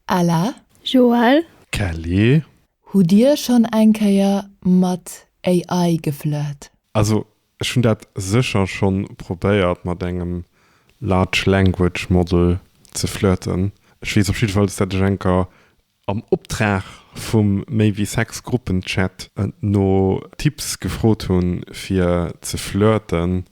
Ella. Joël. Kelly. Hutt dir schonn eng Kéier mat AI geflirt? Also ech hunn dat sécher schonn probéiert mat engem Large Language Model ze flirten. Ech weess op jiddefalls dat ech enker am Optrag vum méi wéi sex Gruppenchat no Tipps gefrot hunn fir ze flirten.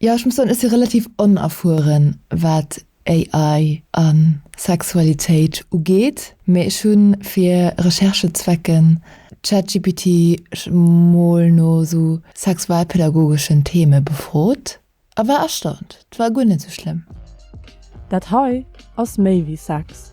Jo, ech muss soen, ech si relativ onerfueren, wat AI a Sexualitéit ugeet, mee ech hu fir Recherchezwecken ChatGPT mol no esou sexualpädagogeschen Theme befrot a war erstaunt. Et war guer net esou schlëmm. Dat hei ass méi wéi Sex.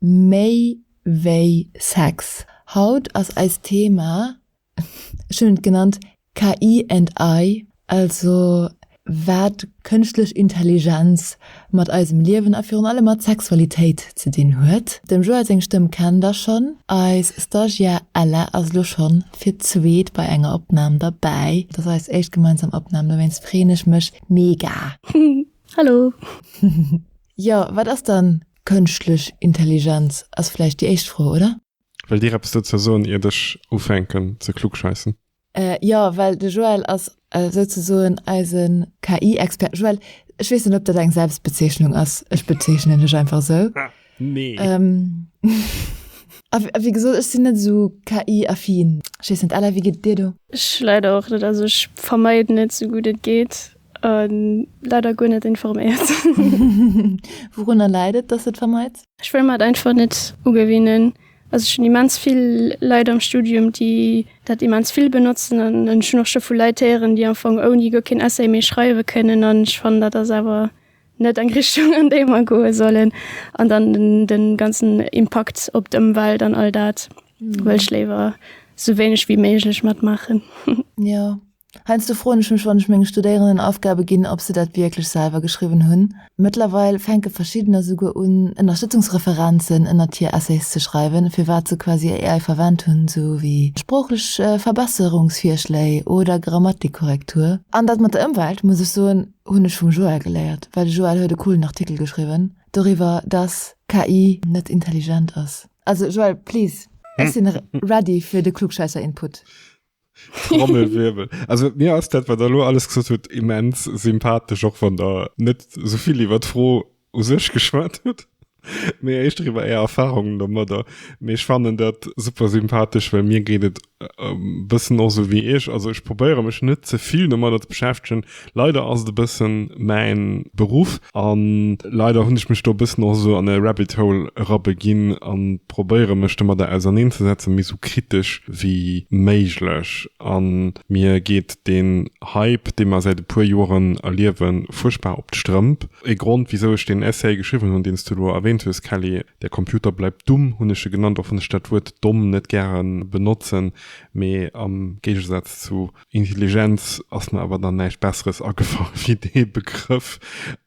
Méi wéi Sex. Haut ass eist Thema, ech hunn et genannt, KI and I, also wat kënschtlech Intelligenz mat eisem Liewen a virun allem mat Sexualitéit ze dinn huet. Dem Joël seng Stëmm kennt der schonn. Eis Stagiaire Ella ass elo schonn fir d'zweet bei enger Opnam derbäi. Et ass eis éischt gemeinsam Opnam, dowéinst freeën ech mech mega. Hallo! Jo, wat ass dann Kënschtlech Intelligenz ass vläicht déi éischt Fro, oder? Wëllt Dir eppes dozou soen, iert ech ufänken ze klugscheissen? Jo, well de Joël ass souzesoen eise KI-Expert. Joël, ech weess net, ob dat eng Selbstbezeechnung ass, ech bezeechnen dech einfach esou. Nee. A wéi gesot, ech sinn net esou KI-affin. Ech weess net, Ella, wéi geet et dir do? Ech leider och net. Also ech vermeiden et esou gutt et geet. Leider guer net informéiert. Wourunner läit et, dass de et vermeits? Ech wëll mer et einfach net ugewinnen. Also ech hunn immens vill Leit am Studium, déi dat immens vill benotzen an ech hunn och scho vu Leit héieren, déi am Fong ouni guer keen Essay méi schreiwe kënnen an ech fannen, dat ass awer net eng Richtung, an déi mer goe sollen. An dann de ganzen Impakt op d'Ëmwelt an all dat wëll ech léiwer sou wéineg wéi méiglech matmaachen. Jo. Heiansdo froen ech mech, wann ech menge Studéierenden Aufgabe ginn, ob se dat wierklech selwer geschriwwen hunn. Mëttlerweil fänke verschiddener souguer un, Ënnerstëtzungsreferenzen ënnert hir Essays ze schreiwen, fir wat se quasi AI verwent hunn, esou wéi sproochlech Verbesserungsvirschléi oder Grammatikkorrektur. An dat mat der Ëmwelt, muss ech soen, hunn ech vum Joël geléiert, well de Joël huet e coolen Artikel geschriwwen doriwwer, dass KI net intelligent ass. Also Joël, please, ech sinn ready fir de Klugschäisser-Input. Trommelwirbel. Also mir ass dat, wat der lo alles gesot huet, immens sympathesch, och wann der net souvill iwwer d'Fro u sech geschwat hutt, mee éischter iwwer Är Erfahrungen domadder. Mee ech fannen dat super sympathesch, well mir geet et e bëssen och esou wéi Iech. Also ech probéiere mech net ze vill domadder ze beschäftegen, Leider ass et e bëssen mäin Beruff an leider hunn ech mech do e bëssen och esou an e Rabbit Hole erabeginn an probéieren mech domadder auserneen ze setzen mee esou kritesch wéi méiglech an mir geet deen Hype dee mer säit e puer Joeren erliewen fuerchtbar op d'Strëmp. E Grond wisou ech deen Essay geschriwwen hunn deens du elo erwähnt hues Kelly, der Computer bleibt dumm hunn ech e genannt och wann ech dat Wuert domm net gären benotzen mee am Géigesaz zu Intelligenz ass mer awer dann näischt Besseres agefall wéi dee Begrëff.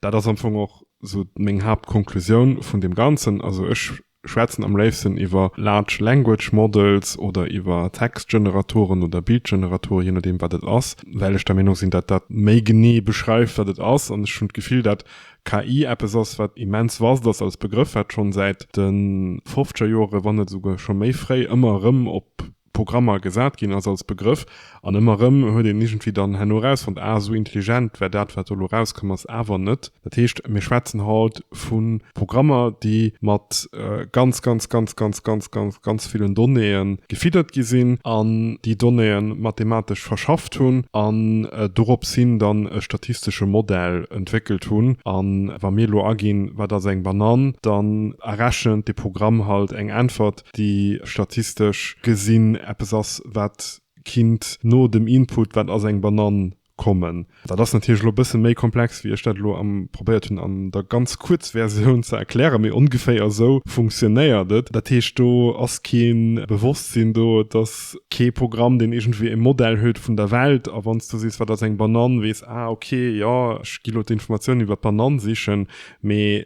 Dat ass am Fong och esou meng Haaptkonklusioun vun deem Ganzen. Also ech schwätzen am léifsten iwwer Large Language Models oder iwwer Textgeneratoren oder Bildgeneratoren, jee nodeem wat et ass, well ech der Meenung sinn, datt dat méi genee beschreift wat et ass. An ech hunn d'Gefill, datt KI eppes ass wat immens vast ass als Begrëff, wat schonn säit de fofzeger Jore wann net esouguer scho méi fréi ëmmer erëm op Programmer gesat ginn ass als Begrëff, an ëmmer erëm huet een iergendwéi dann herno erausfonnt, ah, esou intelligent war dat, wat do elo erauskomm ass, awer net. Dat heescht, mir schwätzen haut vu Programmer, déi mat ganz, ganz, ganz, ganz, ganz, ganz, ganz villen Donnéeë gefiddert gi sinn an déi Donnéeë mathematesch verschafft hunn an dorops hin dann e statistesche Modell entwéckelt hunn. A wa mir elo aginn, wat ass eng Banann, dann errechent dee Programm halt eng Äntwert, déi statistesch gesinn eppes ass, wat kinnt no dem Input, wat ass eng Banann, kommen. Dat ass natierlech elo e bësse méi komplex, wéi ech dat elo am probéiert hunn an der ganz Kuerzversioun ze erklären, mee ongeféier esou funktionéiert et. Dat heescht, do ass kee Bewosstsinn do, et ass kee Programm, deen iergendwéi e Modell huet vun der Welt. A wann s du sees, wat ass eng Banann, weess, ah, okay, jo, ech gi elo d'Informatiounen iwwer d'Banann sichen, Mee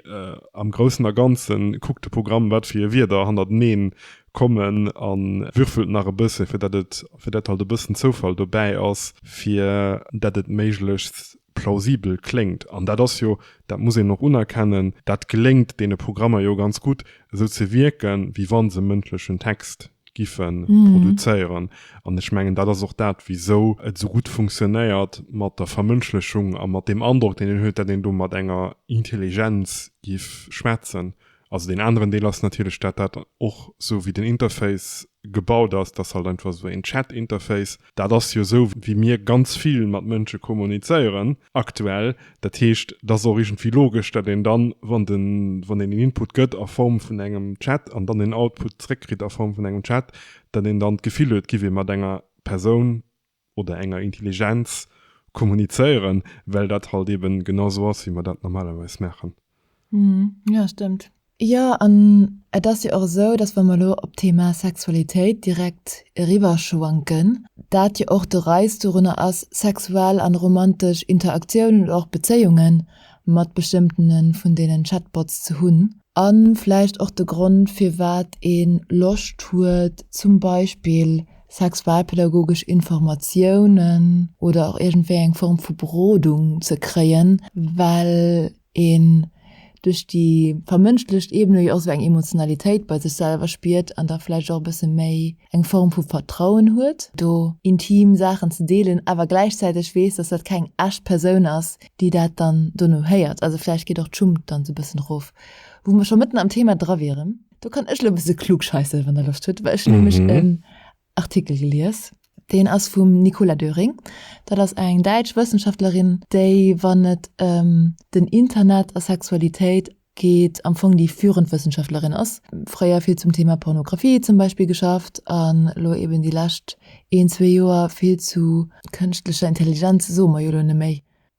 am Groussen a Ganzen, kuckt de Programm, wat fir Wierder hannerteneen kommen a würfelt nach e bësse fir dat et, fir dat halt e bëssen Zoufall dobäi ass, fir dat et méiglechst plausibel kléngt. An dat ass jo, dat muss een och unerkennen, dat geléngt deene Programmer jo ganz gutt, esou ze wierken, wéi wa se mëndlechen Text giffe produzéieren. An ech mengen, dat ass och dat, wisou et esou gutt funktionéiert mat der Vermënschlechung a mat deem Androck, deen een huet, datt een do mat enger Intelligenz giff schwätzen. Also deen aneren Deel ass natierlech, datt dat och, esou wéi den Interface gebaut ass, dat ass halt einfach esou een Chat-Interface, Dat ass jo esou, wéi mir ganz vill mat Mënsche kommunizéieren aktuell. Dat heescht, et ass och iergendwéi logesch, datt een dann, wann den, wann een en Input gëtt a Form vun engem Chat an dann en Output zréckkritt a Form vun engem Chat, datt een dann d'Gefill huet, et giff ee mat enger Persoun oder enger Intelligenz kommunizéieren, well dat halt eeben genau esou ass, wéi mer dat normalerweis maachen. Hm, jo et stëmmt. Jo, an et ass jo och esou, datt wa mer elo op d'Thema Sexualitéit direkt eriwwerschwanken, dat jo och de Reiz dorunner ass, sexuell an romantesch Interaktiounen oder och Bezéiunge mat bestëmmtene vun deenen Chatbots ze hunn, a vläicht och de Grond, firwat ee Loscht huet, zum Beispill sexualpädagogesch Informatiounen oder och iergendwéi eng Form vu Berodung ze kréien, well een duerch déi vermënschlecht Ebene jo och esou eng Emotionalitéit bei sech selwer spiert an da vläicht och e bësse méi eng Form vu Vertrauen huet, do intim Saachen ze deelen, awer gläichzäiteg weess, dass dat keng echt Persoun ass, déi dat dann dono héiert. Also vläicht geet och d'Schummt dann esou e bëssen erof. Wou mer scho mëtten am Thema dra wieren, do kann ech elo e bësse klugscheissen, wann Der Loscht hutt, well ech nämlech e Artikel gelies. Deen ass vum Nicola Döring. Dat ass eng däitsch Wëssenschaftlerin, déi, wann et ëm den Internet a Sexualitéit geet, am Fong déi führend Wëssenschaftlerin ass. Fréier vill zum Thema Pornografie zum Beispill geschafft an elo eben déi lescht een, zwee Joer vill zu kënschtlecher Intelligenz, soe mer jo elo neméi.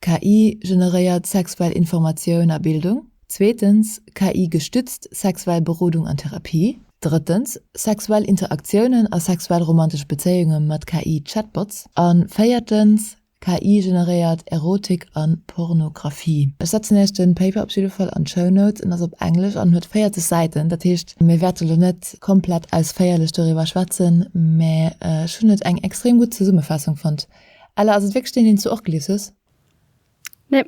KI generéiert sexuell Informatioun a Bildung. Zweetens, KI-gestützt sexuell Berodung an Therapie. Drëttens, sexuell Interaktiounen a sexuell romantesch Bezéiunge mat KI-Chatbots. A véiertens, KI generéiert Erotik a Pornografie. Ech setzen iech de Paper op jidde Fall an d'Show Notes. En ass op Englesch an huet 40 Säiten. Dat heescht, mir wäerte lo net komplett ausféierlech doriwwer schwätzen, mä ech hunn et eng extrem gutt Zesummefaassung fonnt. Ella, ass et wierklech deen, deen s du och gelies hues? Nee,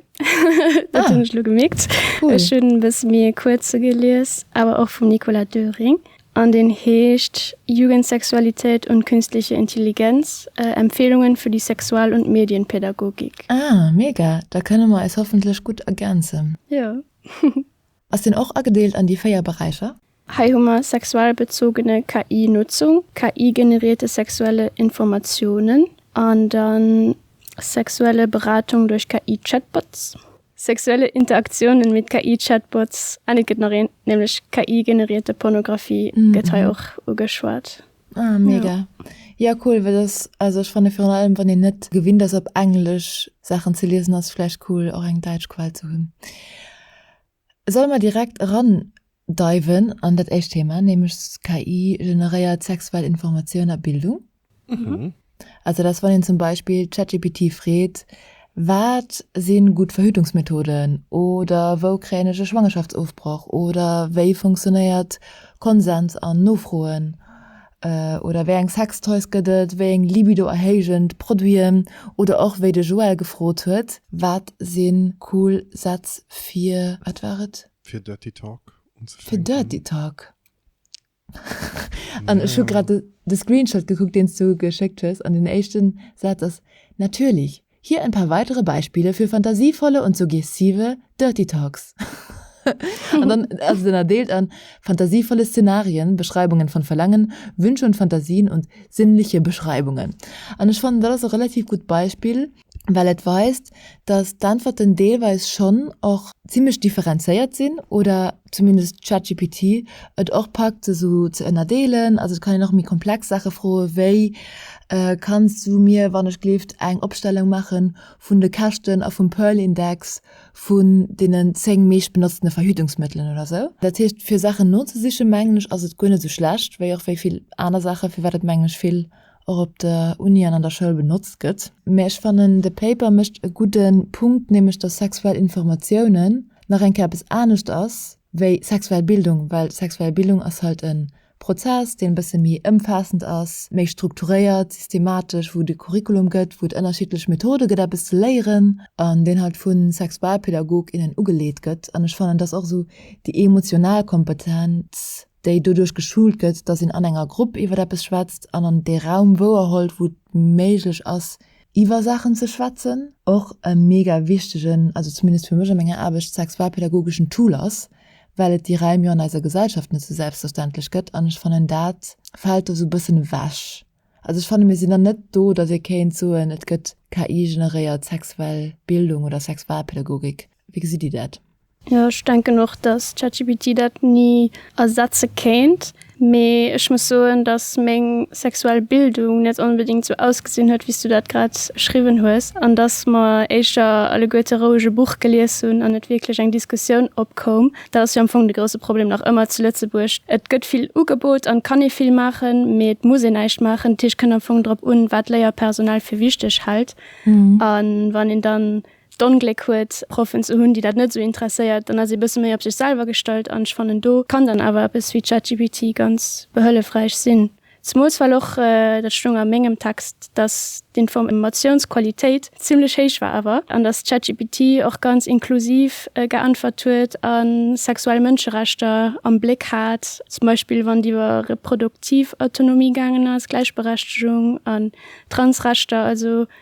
dat hunn ech elo gemierkt. Ech hunn e bësse méi e kuerze gelies, awer och vum Nicolas Döring. An deen heescht Jugendsexualität und künstliche Intelligenz, Empfehlungen für die Sexual und Medienpädagogik. Ah, mega! Da kënne mer eis hoffentlech gutt ergänzen. Jo. Ass deen och agedeelt an déi 4 Beräicher? Hei hu mer sexuell bezogene KI-Nutzung, KI-generierte sexuelle Informatiounen an da sexuelle Beratung duerch KI-Chatbots, sexuelle Interaktiounen mit KI-Chatbots an et gëtt nach een, nämlech KI-generierte Pornografie gëtt hei och ugeschwat. Ah mega. Jo cool, well ass also ech fanne virun allem wann een net gewinnt ass op englesch Saachen ze liesen ass vläicht cool och eng däitsch Quell ze hunn. Solle mer direkt eran deiwen an dat éischt Thema, nämlech KI generéiert sexuell Informatioun a Bildung. Also dass wann een zum Beispill ChatGPT freet, wat si gutt Verhütungsmethoden oder wou kréien ech e Schwangerschaftsofbroch oder wéi funktionéiert Konsens an Nofroen oder wéi eng Sextoys gëtt et, wéi eng libidoerhéijend Produiten oder och wéi de Joël gefrot huet, wat si cool Sätz fir, wat war et? Fir Dirty Talk unzefänken. Fir Dirty Talk. An ech hu grad de Screenshot gekuckt, deen s du geschéckt hues, an den éischten Saz ass, Natürlich! Hier ein paar weitere Beispiele für fantasievolle und suggestive dirty talks. An dann ass et ënnerdeelt an fantasievolle Szenarien, Beschreibungen von Verlangen, Wünsche und Fantasien und sinnliche Beschreibungen. An ech fannen, dat ass e relativ gutt Beispill, well et weist, dass d'Äntwerten deelweis schonn och zimmlech differenzéiert sinn oder zumindest ChatGPT et och packt, se esou ze ënnerdeelen. Also et kann een och méi komplex Saache froen, wéi, Kanns du mir wannechgelift eng Opstellung maache vun de Käschten a vum Pearl-Index vun deenen zéng meeschtbenotztene Verhütungsmëttelen oder esou? Dat heescht, fir Saachen nozesiche mengen ech, ass et guer net esou schlecht, wéi och wéi vill aner Saachen, firwat et mengen ech vill och op der Uni an an der Schoul benotzt gëtt. Mä ech fannen, de Paper mécht e gudde Punkt, nämlech dass sexuell Informatiounen nach eng Kéier eppes anescht ass wéi sexuell Bildung, well sexuell Bildung ass halt e Prozess, deen e bësse méi ëmfaassend ass, méi strukturéiert, systematesch, wou et e Curriculum gëtt, wou et ënnerschiddlech Methode gëtt eppes ze léieren, an deen halt vu Sexualpedagog, innen ugeleet gëtt. An ech fannen, dass och esou déi emotional Kompetenz, déi doduerch geschult gëtt, datt een an enger Grupp iwwer eppes schwätzt an an dee Raum wouerholt, wou et méiglech ass, iwwer Saachen ze schwätzen. Och e mega wichtegen, also zumindest fir mech a menger Aarbecht, sexualpädagogeschen Tool ass, well et déi Raim jo an eiser Gesellschaft net sou selbstverständlech gëtt an ech fannen, dat fält do sou e bëssen ewech. Also ech fanne mir sinn dann net do, datt ee kéint soen, et gëtt KI-generéiert sexuell Bildung oder Sexualpädagogik. Wéi gesitt Dir dat? Jo ech denken och dass ChatGPT dat ni ersetze kéint, mee ech muss soen dass meng sexuell Bildung net onbedingt sou ausgesinn huet wéis du dat grad beschriwwen hues, an dass mer éischter alleguerte roueg e Buch gelies hunn an net wierklech eng Diskussioun opkoum. Dat ass jo am Fong de grousse Problem nach ëmmer zu Lëtzebuerg, et gëtt vill ugebot an et kann ee vill maachen, mee et muss een näischt maachen. Dat heescht et kënnt am Fong drop un wat d'Léierpersonal fir wichteg hält, a wann een dann d'Ongléck huet Proffen ze hunn, déi dat net esou interesséiert, dann ass ee bësse méi op sech selwer gestallt an ech fannen do kann dann awer eppes wéi ChatGPT ganz behëllefräich sinn. Zemools well och, dat stoung a mengem Text, datt d'Informatiounsqualitéit zimmlech héich war awer an datt ChatGPT och ganz inklusiv geäntwert huet a sexuell Mënscherechter am Bléck hat, zum Beispill wann et iwwer reproduktiv Autonomie gaangen ass, Gläichberechtegung an Transrechter, also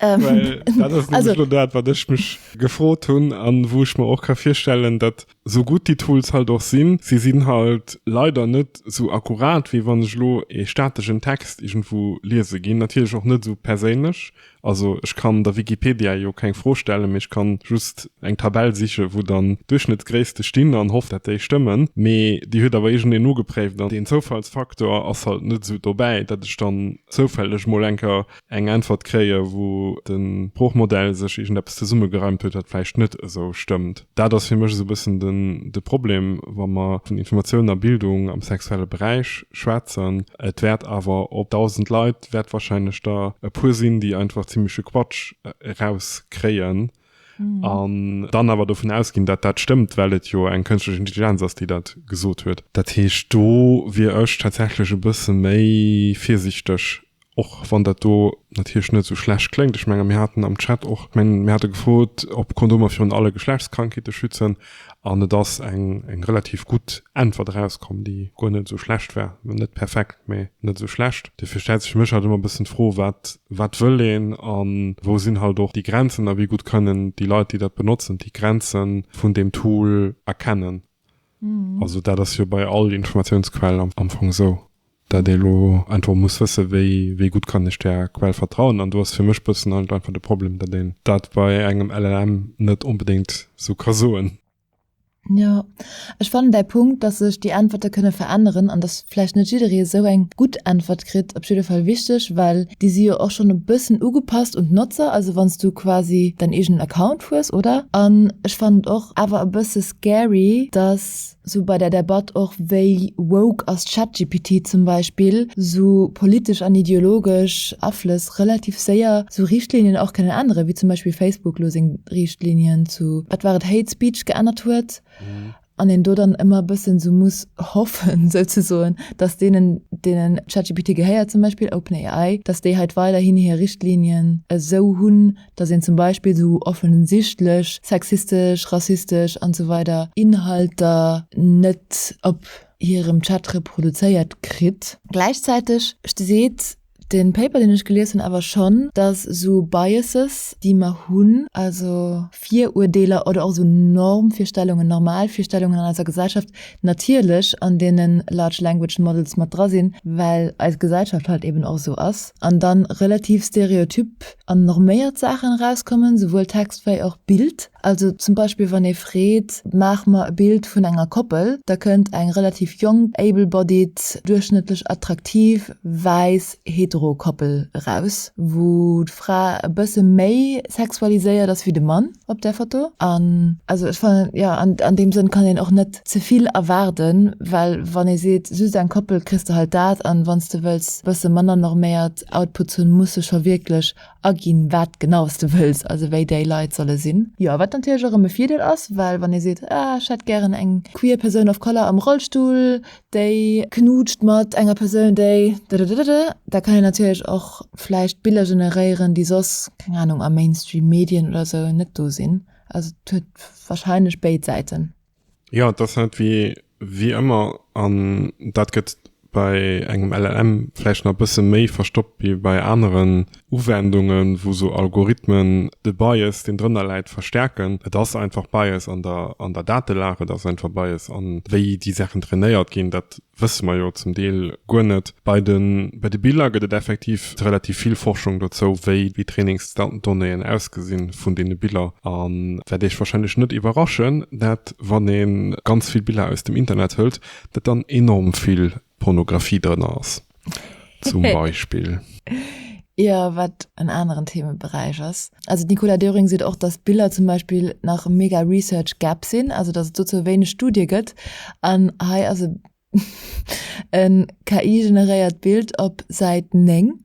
Well dat ass nämlech elo dat, wat ech mech gefrot hunn a wou ech mer och ka virstellen, datt sou gutt déi Tools halt och sinn, se sinn halt leider net sou akkurat, wéi wann ech elo ee stateschen Text iergendwou liese ginn. Natierlech och net sou perséinlech. Also ech kann der Wikipedia jo keng Fro stellen, mee ech ka just eng Tabell sichen, wou dann Duerchschnëttsgréisste stinn an hoff, datt déi stëmmen. Mee déi huet awer iergendeen nogepréift an deen Zoufallsfaktor ass halt net sou dobäi, datt ech dann zoufälleg mol eng Kéier eng Äntwert kréien, wou de Sproochmodell sech iergendeppes zesummegereimt huet, wat vläicht net esou stëmmt. Dat ass fir mech esou e bëssen de Problem, wa mer vun Informatiounen a Bildung am sexuelle Beräich schwätzen. Et wäert awer op dausend Leit wäert wahrscheinlech der e puer sinn, déi einfach zimmleche Quatsch erauskréien. Mhm. An dann awer dovun ausginn, dat dat stëmmt, well et jo eng kënschtlech Intelligenz ass, déi dat gesot huet. Dat heescht, do wier ech tatsächlech e bësse méi virsiichteg, och wann dat do natierlech net esou schlecht kléngt. Ech menge mir haten am Chat och, ech mengen mir hate gefrot, ob Kondomer virun alle Geschlechtskrankheete schützen. An et ass eng relativ gutt Äntwert erauskomm, déi guer net esou schlecht war. Net perfekt, mee net esou schlecht. Dofir stellt sech fir mech halt ëmmer e bëssen d'Fro, Wat wëll een a wou sinn halt och déi Grenzen? A wéi gutt kënnen déi Leit, déi dat benotzen, déi Grenze vun deem Tool erkennen? Also dat ass jo bei all Informatiounsquell am Fong esou. dat ee lo einfach muss wësse wéi wéi gutt kann ech där Quell vertrauen an do ass fir mech bëssen halt einfach de Problem, dat een dat bei engem LLM net onbedéngt sou ka soen. Jo, ech fannen däi Punkt, dass sech déi Äntwerte kënne veränneren an dass vläicht net jidderee esou eng gutt Äntwert kritt, op jidde Fall wichteg, well déi si jo och schonn e bëssen ugepasst un d'Notzer, also wann s du quasi däin eegenen Account hues, oder? An ech fannen et och awer e bësse scary, dass. sou bei der Debatt och, wéi woke ass ChatGPT zum Beispill, sou politesch an ideologesch Aflëss relativ séier sou Richtlinien och kënnen änneren, wéi zum Beispill Facebook elo seng Richtlinien zu, wat war et, Hate Speech geännert huet, an een do dann ëmmer e bëssen sou muss hoffen, souzesoen, datt deenen, deenen ChatGPT gehéiert, zum Beispill OpenAI, datt déi hei weiderhin hir Richtlinien esou hunn, dass een zum Beispill esou offensichtlech sexistesch, rassistesch an esou weider Inhalter net op hirem Chat reproduzéiert kritt. Gläichzäiteg seet de Paper, deen ech gelies hunn, awer schonn, dass esou Biases, déi mer hunn, also Viruerdeeler oder och esou Normvirstellungen, Normalvirstellungen an eiser Gesellschaft natierlech an deene Large Language Models mat dra sinn, well eis Gesellschaft halt eben och esou ass an dann relativ stereotyp an norméiert Saachen erauskommen, souwuel Text wei och Bild. Also zum Beispill wann ee freet, maach mer e Bild vun enger Koppel, da kënnt eng relativ jonk, able-bodied, duerchschnëttlech attraktiv, wäiss, hetero Koppel eraus, wou d'Fra e bësse méi sexualiséiert ass wéi de Mann. op der Foto. An also ech fannen jo an deem Sënn kann een och net zevill erwaarden, well wann ee seet just eng Koppel kriss de halt dat an wann s de wëlls e bësse manner norméiert Outputs hunn, muss de scho wierklech aginn wat genau s de wëlls, also wéi déi Leit solle sinn. Jo, wat natierlech och erëm e Virdeel ass, well wann ee seet ah ech hätt gären eng queer Persoun of color am Rollstull, déi knutscht mat enger Persoun déi dadadadada, da kann een natierlech och vläicht Biller generéieren déi soss, keng Ahnung, a Mainstream Medien oder sou net do sinn. Also et huet wahrscheinlech béid Säiten. Jo, et ass net wéi wéi ëmmer an dat gëtt bei engem LLM vläicht nach e bësse méi verstoppt wéi bei aneren Uwendungen, wou sou Algorithmen de Bias, deen drënner läit, verstärken. Et ass einfach Bias an der, an der Datelag, et ass einfach Bias an wéi déi Saachen trainéiert ginn. Dat wësse mer jo zum Deel guer net. Bei de, bei de Biller gëtt et effektiv relativ vill Forschung dozou, wéi déi Trainingsdonnéeën ausgesinn vun deene Biller. An wäert Iech wahrscheinlech net iwwerraschen, dat wann ee ganz vill Biller aus dem Internet hëlt, dat dann enorm vill Pornographie drënner ass, zum Beispill. Jo, wat en aneren Themeberäich ass. Also d'Nicola Döring seet och, datt Biller zum Beispill nach mega Research Gap sinn, also datt et dozou wéineg Studie gëtt. An hei ass e KI-generéiert Bild op Säit 9.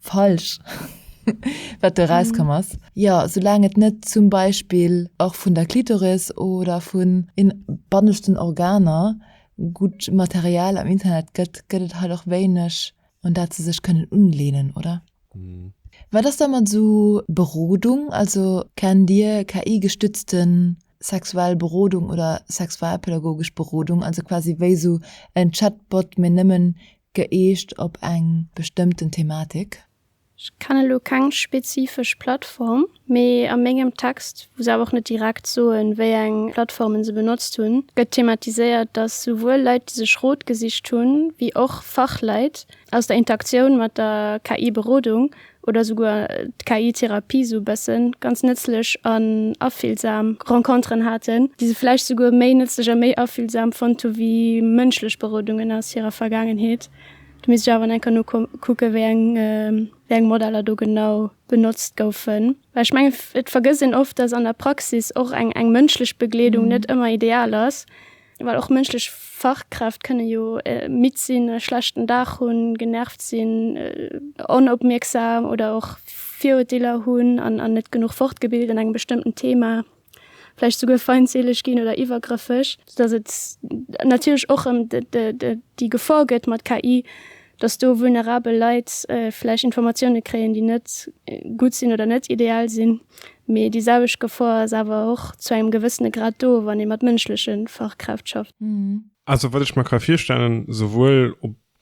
falsch wat do rauskomm ass. Jo, soulaang et net zum Beispill och vun der Klitoris oder vun den banneschten Organer gutt Material am Internet gëtt, gëtt et halt och wéineg un dat se sech kënnen unleenen, oder? Wat ass da mat esou Berodung? Also kennt Dir KI-gestützte sexuell Berodung oder sexualpädagogesch Berodung, also quasi wéi esou en Chatbot, mee nëmmen Gëeegt op eng bestëmmten Thematik. Ech kennen elo keng spezifesch Plattform, mee a mengem Text, wou se awer och net direkt soen, wéi eng Plattformen se benotzt hunn, gëtt thematiséiert, dass souwuel Leit, déi sech Rot gesicht hunn, wéi och Fachleit aus der Interaktioun mat der KI-Berodung oder souguer d'KI-Therapie sou e bëssen, ganz nëtzlech an afillsam Renconteren haten, déi se vläicht souguer méi nëtzlech a méi afillsam fonnt hu wéi mënschlech Berodungen aus hirer Vergaangenheet. Do misst ech awer nach enker nokucken, wéi eng, wéi eng Modeller do genau benotzt goufen, well ech mengen, et vergësst een oft, dass an der Praxis och eng, eng mënschlech Begleedung net ëmmer ideal ass. Well och mënschlech Fachkräft kënne jo midd sinn, e schlechten Dag hunn, genervt sinn, onopmierksam oder och Virurteeler hunn an an net genuch fortgebilt an engem bestëmmten Thema, vläicht souguer feindseeleg ginn oder iwwergrëffeg. Dass et natierlech och ëm de de déi Gefor gëtt mat KI, dass do vulnerabel Leit vläicht Informatioune kréien, déi net gutt sinn oder net ideal sinn. Mee déi selwecht Gefor ass awer och zu engem gewëssene Grad do, wann ee mat mënschleche Fachkräft schafft. Also wat ech mer ka virstellen, souwuel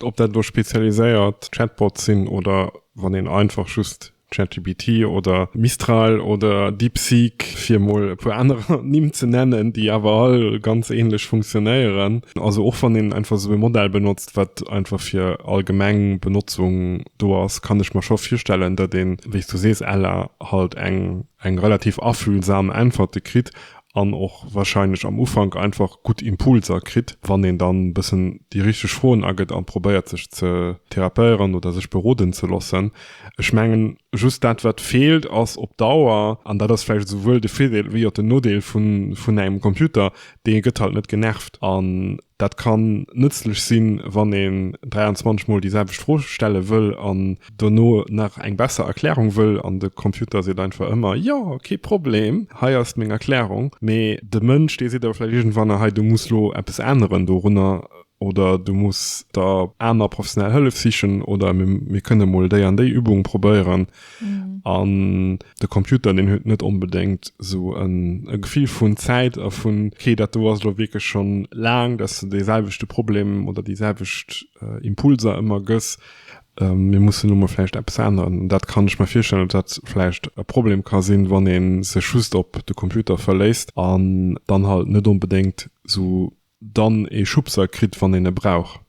ob dat elo spezialiséiert Chatbots sinn oder wann een einfach just ChatGPT oder Mistral oder DeepSeek, fir emol e puer aner Nimm ze nennen, déi awer all ganz ähnlech funktionéieren. Also och wann een einfach esou e Modell benotzt, wat einfach fir allgemeng Benotzung do ass, kann ech mer scho virstellen, datt een, wéi s du sees, ella, halt eng eng relativ afühlsam Äntwerte kritt an och wahrscheinlech am Ufank einfach gutt Impulser kritt, wann een dann e bëssen déi richteg Froen agëtt a probéiert sech ze therapéieren oder sech beroden ze loossen. Ech mengen, just dat, wat feelt, ass op Dauer, an dat ass vläicht esouwuel de Virdeel wéi och den Nodeel vun engem Computer, dee gëtt halt net genervt. An dat kann nëtzlech sinn, wann een 23 Mol déi selwecht Fro stelle wëll an dono nach eng besser Erklärung wëll an de Computer seet einfach ëmmer, Jo, kee Problem, hei ass meng Erklärung. Mee de Mënsch, dee seet awer vläicht iergendwann, Ahei, du muss elo eppes änneren dorunner, oder du muss der aner professionell Hëllef sichen oder mir kënne mol déi an déi Übung probéieren. Mhm. An de Computer den huet net onbedéngt sou en e Gefill vun Zäit a vun okay, dat do ass lo wierklech schonn laang, datt de deeselwechte Problem oder déiselwecht äh, Impulser ëmmer gëss. Ähm, mir mussen nu mol vläicht eppes änneren. An dat kann ech mir virstellen, datt dat vläicht e Problem ka sinn, wann ee sech just op de Computer verléisst an dann halt net onbedéngt sou Dann ee Schubser kritt wann een e brauch.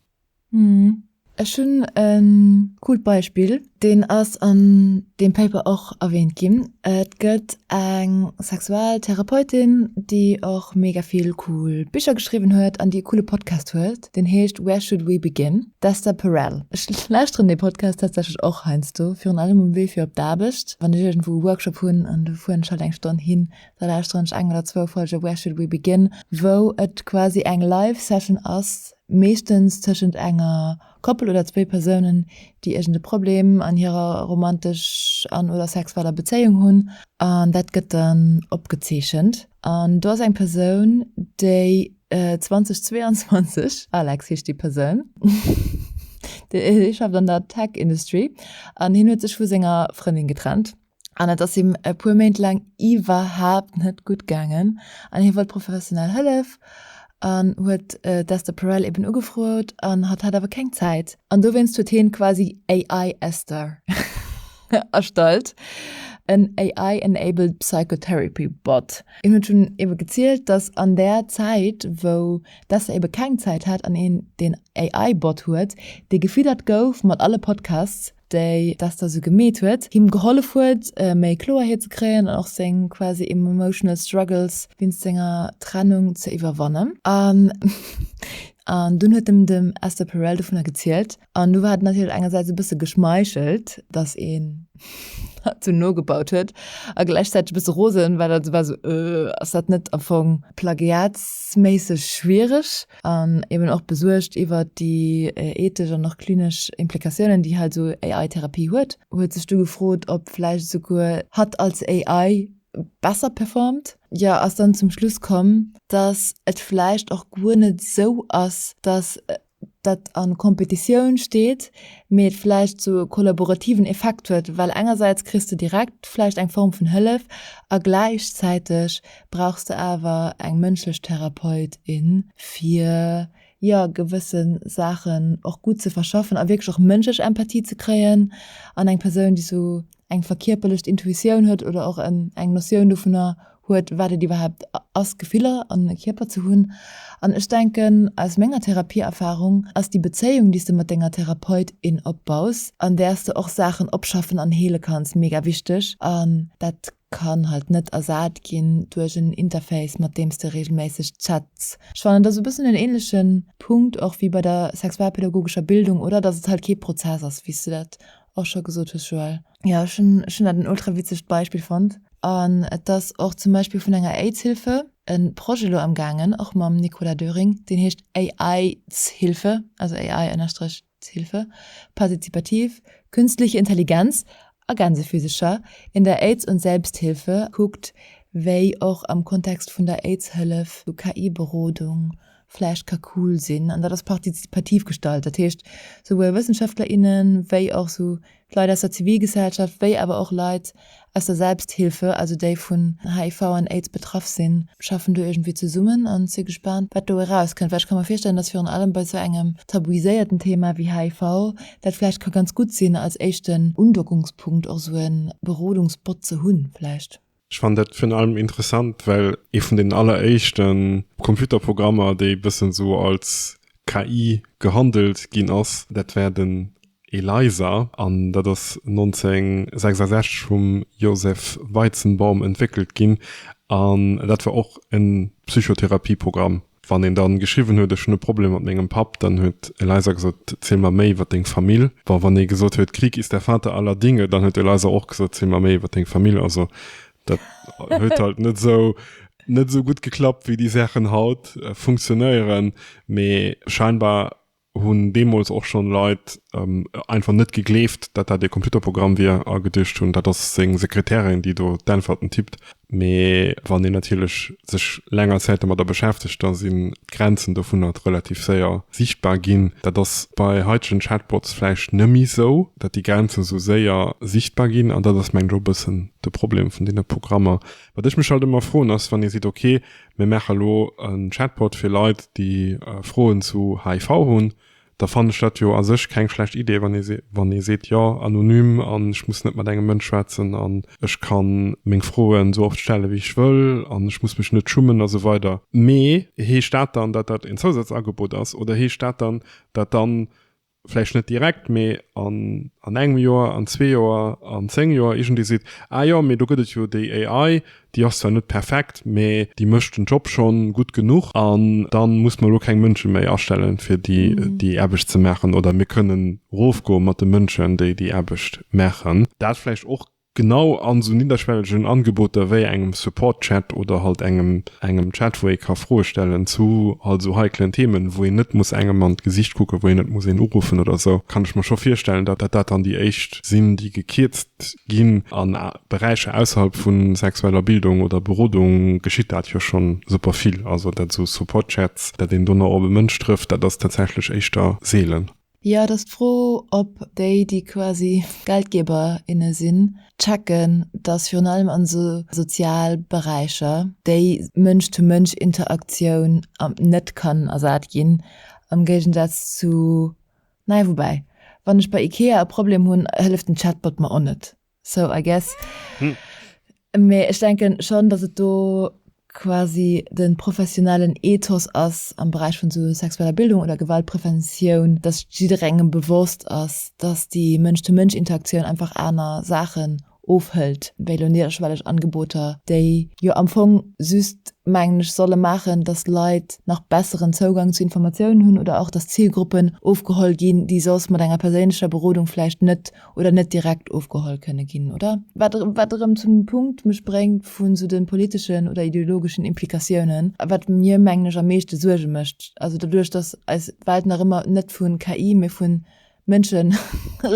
Hm. Ech hunn e coolt Beispill, deen ass an deem Paper och erwähnt ginn. Et gëtt eng Sexualtherapeutin, déi och mega vill cool Bicher geschriwwen huet an déi e coole Podcast huet, deen heescht Where Should We Begin? D'Esther Perel. Ech lauschteren dee Podcast tatsächlech och heiansdo, virun allem um Wee fir op d'Aarbecht, wann ech iergendwou e Workshop hunn an do fueren ech halt eng Stonn hin, Da lauschteren ech eng oder zwou Folge Where Should We Begin, wou et quasi eng live Session ass, meeschtens tëschent enger Koppel oder zwéi Persounen, déi iergend e Problem an hirer romantesch an, oder sexueller Bezéiung hunn. An dat gëtt dann opgezeechent. An do ass eng Persoun, déi 2022, Alex heescht déi Persoun, hie schafft an der Tech Industry an hien huet sech vu senger Frëndin getrennt. An et ass him e puer Méint laang iwwerhaapt net gutt gaangen an hie wollt professionell Hëllef an huet d'Esther Perel eben ugefrot an hatt hat awer keng Zäit. An dowéinst huet hien quasi AI Esther erstallt, en AI enabled psychotherapy bot. Hien huet schonn ebe gezielt, dass an där Zäit wou d'Esther ebe keng Zäit hat an een deen AI Bot huet, dee gefiddert gouf mat alle Podcasts, déi dat da sou gemeet huet, him gehollef huet méi Kloerheet ze kréien an och seng quasi emotional struggles wéinst senger Trennung ze iwwerwannen. An an dunn huet em dem Esther Perel dovunner gezielt an do war et natierlech engersäits e bësse geschmeichelt, datt een dat sou nogebaut huet a gläichzäiteg e bësse rosen, well et war sou, Ëh, ass dat net am Fong plagiatsméisseg schwiereg? an eben och besuergt iwwer déi ethesch an och klinesch Implikatiounen, déi halt esou AI-Therapie huet. Huet sech du gefrot, ob vläicht esouguer hatt als AI besser performt? Jo, ass dann zum Schluss komm, dass et vläicht och guer net esou ass, dass dat a Kompetitioun steet, mee et vläicht esou e kollaborativen Effekt huet, well engersäits kriss de direkt vläicht eng Form vun Hëllef a gläichzäiteg brauchs de awer eng mënschlech Therapeut, in, fir jo gewësse Saachen och gutt ze verschaffen a wierklech och mënschlech Empathie ze kréien an eng Persoun, déi esou eng verkierperlecht Intuitioun huet oder och en eng Notioun dovunner huet, wat et iwwerhaapt ass, Gefiller an e Kierper ze hunn. An ech denken, aus menger Therapieerfarung ass déi Bezéiung, déi s de mat denger Therapeut, in opbaus, an där s de och Saachen opschaffen an heele kanns, mega wichteg an dat, kann halt net ersat ginn duerch en Interface mat deems de regelméisseg chats. Ech fannen et ass e bëssen en ähnleche Punkt och wéi bei der sexualpädagogescher Bildung, oder? Dass et halt kee Prozess ass, wéi s de dat och scho gesot hues, Joël. Jo, ech hunn dat en ultra witzegt Beispill fonnt. An et ass och zum Beispill vun enger Aidshilfe e Projet elo am gaangen, och mam Nicolas Döring, deen heescht AI-tshilfe, also AI ënnerstrich D'Hilfe Participativ, Künstliche Intelligenz a Gänsephysecher in der Aids und Selbsthilfe kuckt, wéi och am Kontext vun der Aids-Hëllef esou KI-Berodung vläicht ka cool sinn. An dat ass partizipativ gestalt, dat heescht souwuel Wëssenschaftler, innen, wéi och esou D'Leit aus der Zivilgesellschaft, wéi awer och Leit aus der Selbsthilfe, also déi vun HIV an Aids betraff sinn, schaffen do iergendwéi zesummen an si gespaant, wat do erauskënnt. Well ech ka mer virstellen, datt virun allem bei esou engem tabuiséierten Thema wéi HIV dat vläicht ka ganz gutt sinn, als éischten Undockungspunkt och esou e Berodungsbot ze hunn vläicht. Ech fannen dat virun allem interessant, well ee vun den alleréischte Computerprogrammer, déi e bëssen esou als KI gehandelt ginn ass, dat war den ELIZA an dat ass 1966 vum Joseph Weizenbaum entwéckelt ginn an dat war och e Psychotherapieprogramm. Wann een dann geschriwwen huet, ech hunn e Problem mat mengem Papp, dann huet Eliza gesot, ziel mer méi iwwer deng Famill. Bon, wann ee gesot huet, Krieg ist der Vater aller Dinge, dann huet Eliza och gesot, ziel mer méi iwwer deng Famill. Also dat huet halt net esou, net esou gutt geklappt, wéi déi Saachen haut funktionéieren, mee scheinbar hunn deemools och schonn Leit einfach net gegleeft, datt dat ee Computerprogramm wier a geduecht hunn, dat ass seng Sekretärin, déi do d'Änferten tippt. Mee wann een natierlech sech länger Zäit domadder beschäftegt, da sinn d'Grenzen dovunner relativ séier sichtbar ginn. Dat ass bei haitegen Chatbots vläicht nëmme sou, datt déi Grenzen sou séier sichtbar ginn an dat ass mengen ech och e bëssen de Problem vun deene Programmer. Wat ech mech halt ëmmer froen ass, wann ee seet, ok, Mir maache lo en Chatbot fir Leit, déi Froen zu HIV hunn. Da fannen ech dat jo a sech keng schlecht Idee, wann ee seet, jo, anonym an ech muss net mat engem Mënsch schwätzen an ech ka meng Froen esou oft stelle wéi ech wëll an ech muss mech net schummen a sou weider. Mee heescht dat dann, datt dat en Zousazangebot ass oder heescht dat dann, datt dann vläicht net direkt, mee an an engem Joer, an zwee Joer, an zéng Joer iergendee seet, Ah jo, mee do gëtt et jo déi AI, déi ass zwar net perfekt, mee déi mécht den Job schonn gutt genuch an da muss mer elo keng Mënsche méi astellen, fir déi déi Aarbecht ze maachen, oder mir kënnen erofgoe mat de Mënschen, déi déi Aarbecht maachen. Dat vläicht och Genau an esou nidderschwellegen Angeboter wéi engem Support-Chat oder halt engem engem Chat wou ee ka Froe stellen zu halt esou heiklen Themen wou een net muss engem an d'Gesicht kucken, wou een net muss een uruffen oder esou, kann ech mer scho virstellen dat dat dann déi éischt sinn déi gekierzt ginn. An Beräicher ausserhalb vu sexueller Bildung oder Berodung geschitt dat jo schonn super vill, also dat esou Support-Chats, dat een dono op e Mënsch trëfft, dat ass tatsächlech éischter seelen. Jo, et ass d'Fro, ob déi, déi quasi Geldgeber, inne sinn, checken, datt virun allem an esou soziale Beräicher déi Mënsch-to-Mënsch-Interaktioun net kann ersat ginn, am Géigensaz zu, naja, woubäi, wann ech bei Ikea e Problem hunn, hëlleft den Chatbot mer och net. So I guess. Mee ech denken schon dass et do quasi den professionellen Ethos ass am Beräich vun sou sexueller Bildung oder Gewaltpreventioun, dass jidderengem bewosst ass, dass déi Mënsch-zu-Mënsch-Interaktioun einfach aner Saachen ofhëlt wéi elo niederschwelleg Angeboter, déi jo am Fong just, mengen ech, solle maachen, dass Leit nach besseren Zougang zu Informatiounen hunn oder och dass Zilgruppen ofgeholl ginn, déi soss mat enger perséinlecher Berodung vläicht net oder net direkt ofgeholl kënne ginn, oder? Wat, wat erëm zum Punkt mech bréngt vun esou de politeschen oder ideologeschen Implikatiounen, wat mir, mengen ech, am meeschte Suerge mécht. Also doduerch, dass eis Welt nach ëmmer net vu KI, mee vu Mënsche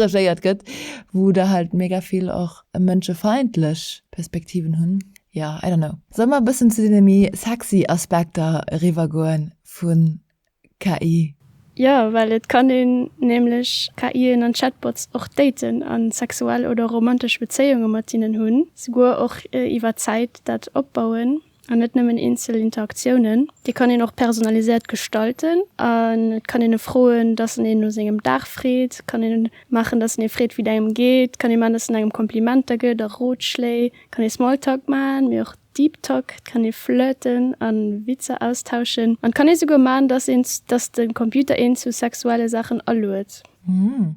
regéiert gëtt, wou der halt mega vill och mënschefeindlech Perspektiven hunn, jo, I don't know. Solle mer e bëssen zu deene méi sexy Aspekter eriwwer goen vun KI? Jo, well et kann een nämlech KIen an Chatbots och daten a sexuell oder romantesch Bezéiunge mat hinnen hunn, souguer och iwwer Zäit dat opbauen an net nëmmen eenzel Interaktiounen. Déi kann een och personaliséiert gestalten an et kann een e froen, dass en een no sengem Dag freet, kann ee maachen, dass en ee freet, wéi et engem geet, kann ee maachen, dass en engem Komplimenter gëtt a Rotschléi, kann ee Smalltalk maachen, mee och Deep Talk, et kann ee flirten a Witzer austauschen an et kann ee souguer man, dass een, dass de Computer een zu sexuelle Saachen aluet.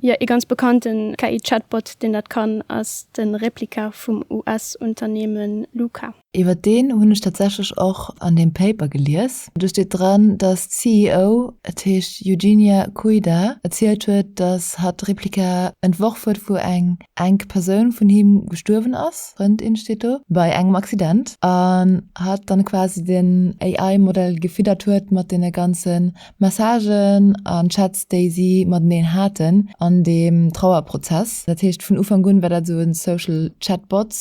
Jo, ee ganz bekannten KI-Chatbot, deen dat kann, ass de Replika vum US-Unternehme Luca. Iwwer deen hunn ech tatsächlech och an deem Paper gelies. Do steet dran, dass d'CEO, et heescht Eugenia Koida, erzielt huet, dass hatt d'Replika entworf huet, wou eng enk Persoun vun him gestuerwen ass, Frëndin steet do, bei engem Accident, an hatt dann quasi den AI Model gefiddert huet mat den ganzen Messagen an Chats déi si mateneen haten an deem Trauerprozess. Dat heescht vun Ufank un war dat esou en Social Chatbot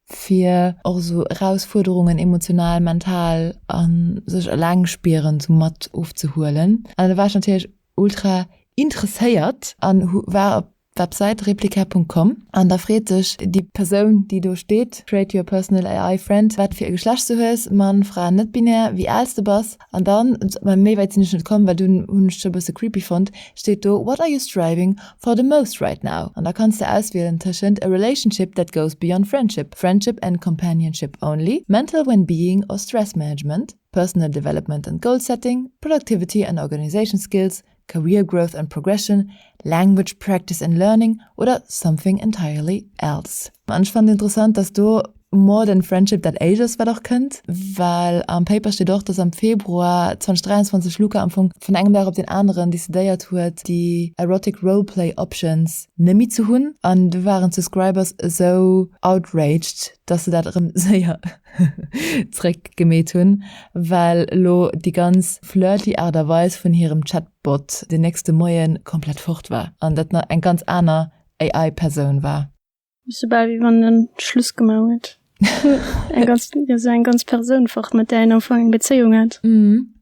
fir och esou Erausfuerderungen emotional, mental an sech eleng spieren esou mat ofzehuelen. An da war ech natierlech ultra interesséiert an hu war Websäit Replika.com an da freet dech déi Persoun déi do steet, Create your personal AI friend, wat fir e Geschlecht du hues, Mann, Fra, net-binär, wéi aals de bass an dann, mä méi wäit sinn ech net komm well dunn hunn ech et scho e bësse creepy fonnt, steet do What are you striving for the most right now? an da kanns de auswielen tëschent a relationship that goes beyond friendship, friendship and companionship only, mental well-being or stress management, personal development and goal setting, productivity and organization skills, Career Growth and Progression, Language Practice and Learning oder Something Entirely Else. An ech fannen interessant, dass do More than Friendship dat éischt ass, wat och kënnt, well am Paper steet och, dass am Februar 2023 Luca am Fong vun engem Dag op deen aneren decidéiert huet, déi Erotic Roleplay Options nëmmi ze hunn. An du waren d'Subscribers esou outraged, dass se dat erëm séier zréck gemeet hunn, well elo déi ganz flirty Aart a Weis vun hirem Chatbot den nächste Moie komplett fort war an dat nach eng ganz aner AI-Persoun war. Sou bal wéi wann en Schluss gemaach huet. Eng ganz, jo sou eng ganz Persoun fort, mat där een am Fong eng Bezéiung hat. Mhm.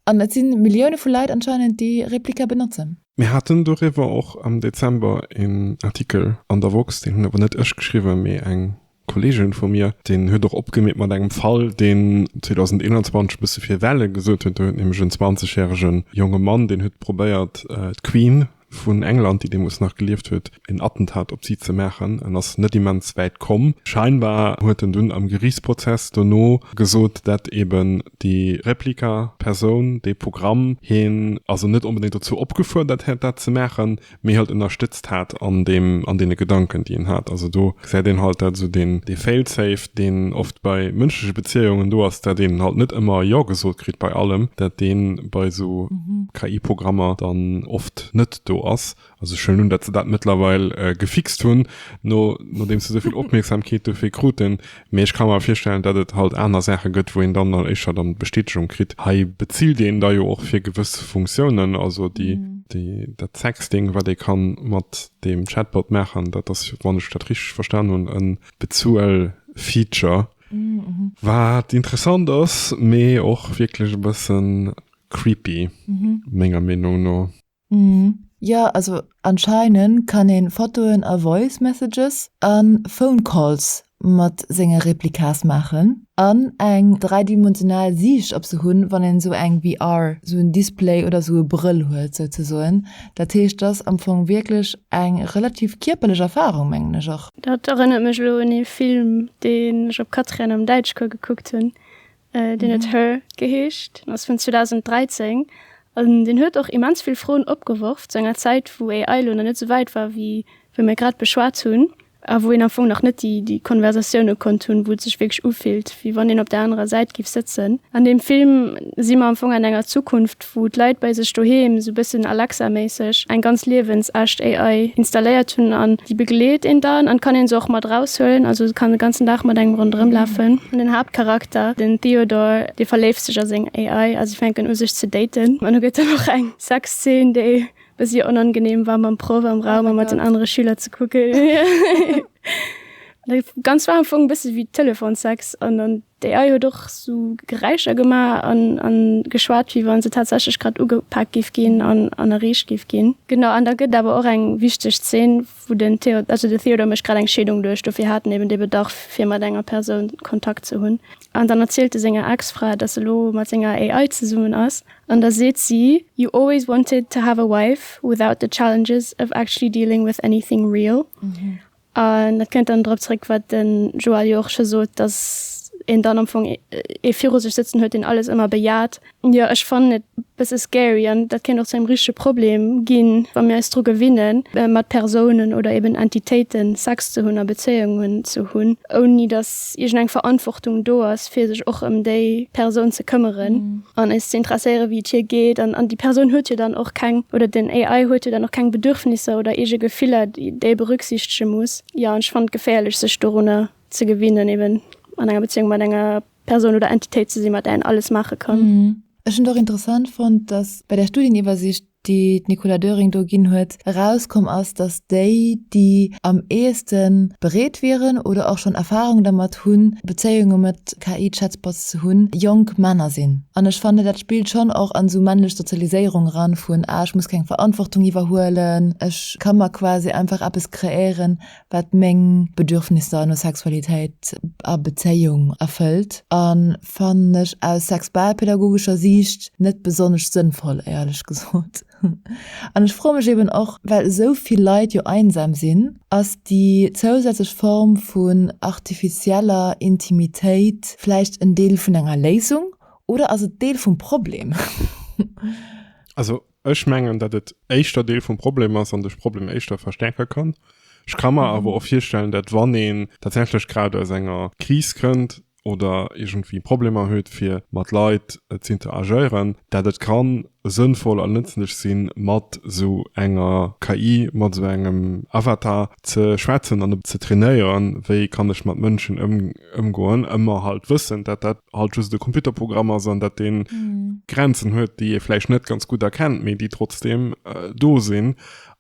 An et si Millioune vu Leit anscheinend, déi Replika benotzen. Mir haten doriwwer och am Dezember een Artikel an der woxx, deen hunn awer net ech geschriwwen, mee eng Kollegen vu mir, deen huet och opgemeet mat engem Fall, deen 2021 e bësse fir Welle gesuert huet. Do huet nämlech en 20 järege jonge Mann, deen huet probéiert, d'Queen vun England, déi deemools nach gelieft huet, en Attentat op si ze maachen. En ass net immens wäit komm. Scheinbar huet en dunn am Geriichtsprozess dono gesot, dat eben déi Replika-Persoun, dee Programm, hien also net onbedéngt dozou opgefuerdert hätt, dat ze maachen, méi halt ënnerstëtzt hat an deem, an deene Gedanken, déi en hat. Also do gesäit een halt, dat esou deen, dee Fail-safe, deen oft bei mënschleche Beziehungen do ass, dat een halt net ëmmer Jo gesot kritt bei allem, dat dee bei esou KI-Programmer dann oft net do ass. Also ech huelen un, dat se dat mëttlerweil gefixt hunn, no, nodeems se esou vill Opmierksamkeet dofir kruten, Mee ech ka mer virstellen, datt et halt aner Saache gëtt, wou een dann dann éischter dann d'Bestätegung kritt. Hei bezilt een da jo och fir gewëss Funktiounen, also déi, déi, dat Sexting, wat ee ka mat deem Chatbot maachen, dat ass, wann ech dat richteg verstan hunn, e Bezuel-Feature, wat interessant ass, mee och wierklech e bëssen creepy, menger Meenung no. Mhm jo also anscheinend kann een Fotoen a Voice Messages an Phone Calls mat sengen Replikas maachen an eng dräidimensional Siicht op se hunn wann een sou eng VR sou en Display oder sou e Brëll huet souzesoen. Dat heescht ass am Fong wierklech eng relativ kierperlech Erfarung mengen ech och. Dat erënnert mech elo un ee Film deen ech op Quatriène am Däitschcours gekuckt hunn, Deen huet Her geheescht, deen ass vun 2013 an deen huet och immens vill Froen opgeworf zu enger Zäit, wou AI elo nach net esou wäit war, wéi wéi mir grad beschwat hunn a wou een am Fong nach net déi déi Konversatioune konnt hunn, wou et sech wierklech ufillt, wéi wann een op där anerer Säit géif sëtzen. An deem Film si mer am Fong an enger Zukunft, wou d'Leit bei sech doheem, sou bëssen Alexa-méisseg, eng ganz liewensecht AI installéiert hunn an déi begleet een dann an kann een se och mat raus huelen, also se kann de ganzen Dag mat engem ronderëm lafen. An den Haaptcharakter, den Theodore, dee verléift sech a seng AI a si fänken u sech ze daten an do gëtt dann och eng Sexzeen, déi bëssi onangeneem war mam Proff am Raum a mat den anere Schüler ze kucken. Dat Ganzt war am Fong e bësse wéi Telefonsex an dann. D'AI huet och sou Geräischer gemaach a geschwat, wéi wa se tatsächlech grad ugepak géif ginn an erreecht géif ginn. Genau, an da gëtt et awer och eng wichteg Zeen, wou den Theod-, also den Theodore mécht grad eng Scheedung duerch, dofir hat en eben dee Bedarf, fir mat enger Persoun Kontakt ze hunn. An dann erzielt e senger Ex-Fra, dass e lo mat senger AI zesummen ass, an da seet si, You always wanted to have a wife without the challenges of actually dealing with anything real. An dat kënnt dann drop zréck, wat de Joël jo och scho sot, datt een dann am Fong ee viru sech sëtzen huet, deen alles ëmmer bejaht. Jo, ech fannen et e bësse scary an dat kéint och zu engem richtege Problem ginn, wa mir eis dru gewinne mat Persounen oder eben Entitéiten Sex ze hunn a Bezéiungen ze hunn, ouni datt iergend eng Verantwortung do ass fir sech och ëm déi Persoun ze këmmeren an eis ze interesséiere wéi et hir geet an an déi Persoun huet jo dann och keng oder den AI huet jo dann och keng Bedürfnisser oder eege Gefiller déi e berücksichtege muss. Jo an ech fannen et geféierlech sech dorunner ze gewinnen eben an enger Beziéung mat enger Persoun oder Entitéit ze sinn mat där een alles maache kann. Ech hunn et och interessant fonnt, datt bei der Studieniwwersicht déi d'Nicola Döring do ginn huet, erauskomm ass, datt déi, déi am eheeste bereet wieren oder och schonn Erfarung dermat hunn, Bezéiunge mat KI-Chatbots ze hunn, jonk Männer sinn. An ech fannen, dat spillt schonn och an esou männlech Sozialiséierung eran, vun, ah, ech muss keng Verantwortung iwwerhuelen, ech ka mer quasi einfach eppes kreéieren, wat meng Bedürfnisser no Sexualitéit a Bezéiung erfëllt a fannen ech aus sexualpädagogescher Siicht net besonnesch sënnvoll, éierlech gesot. An ech froe mech eben och, well esou vill Leit jo einsam sinn, ass déi zousätzlech Form vun artificieller Intimitéit vläicht en Deel vun enger Léisung oder ass et Deel vum Problem? Also Ech mengen, datt et éischter Deel vum Problem ass an de Problem éischter verstärke kann. Ech ka mer awer och virstellen, datt wann een tatsächlech grad aus enger Kris kënnt oder iergendwéi Problemer huet fir mat Leit z'interagéieren, datt et ka sënnvoll a nëtzlech si mat esou enger KI, mat esou engem Avatar ze schwätzen an e bëssen ze trainéieren, wéi kann ech mat Mënschen ëmgoen, ëmmer halt wëssend, datt dat halt just e Computerprogramm ass an dat den mm. Grenzen huet, déi e vläicht net ganz gut erkennt, méi déi trotzdem äh, do sinn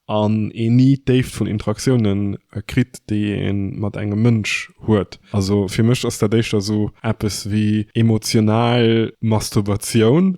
an e nie déift vun Interaktionen äh, krit, déi en mat engem Mënsch huet. Also fir mech ass der déichter so Appes wie emotional Masturbation,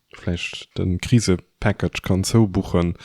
vläicht den Krisepackage kann zoubuchen,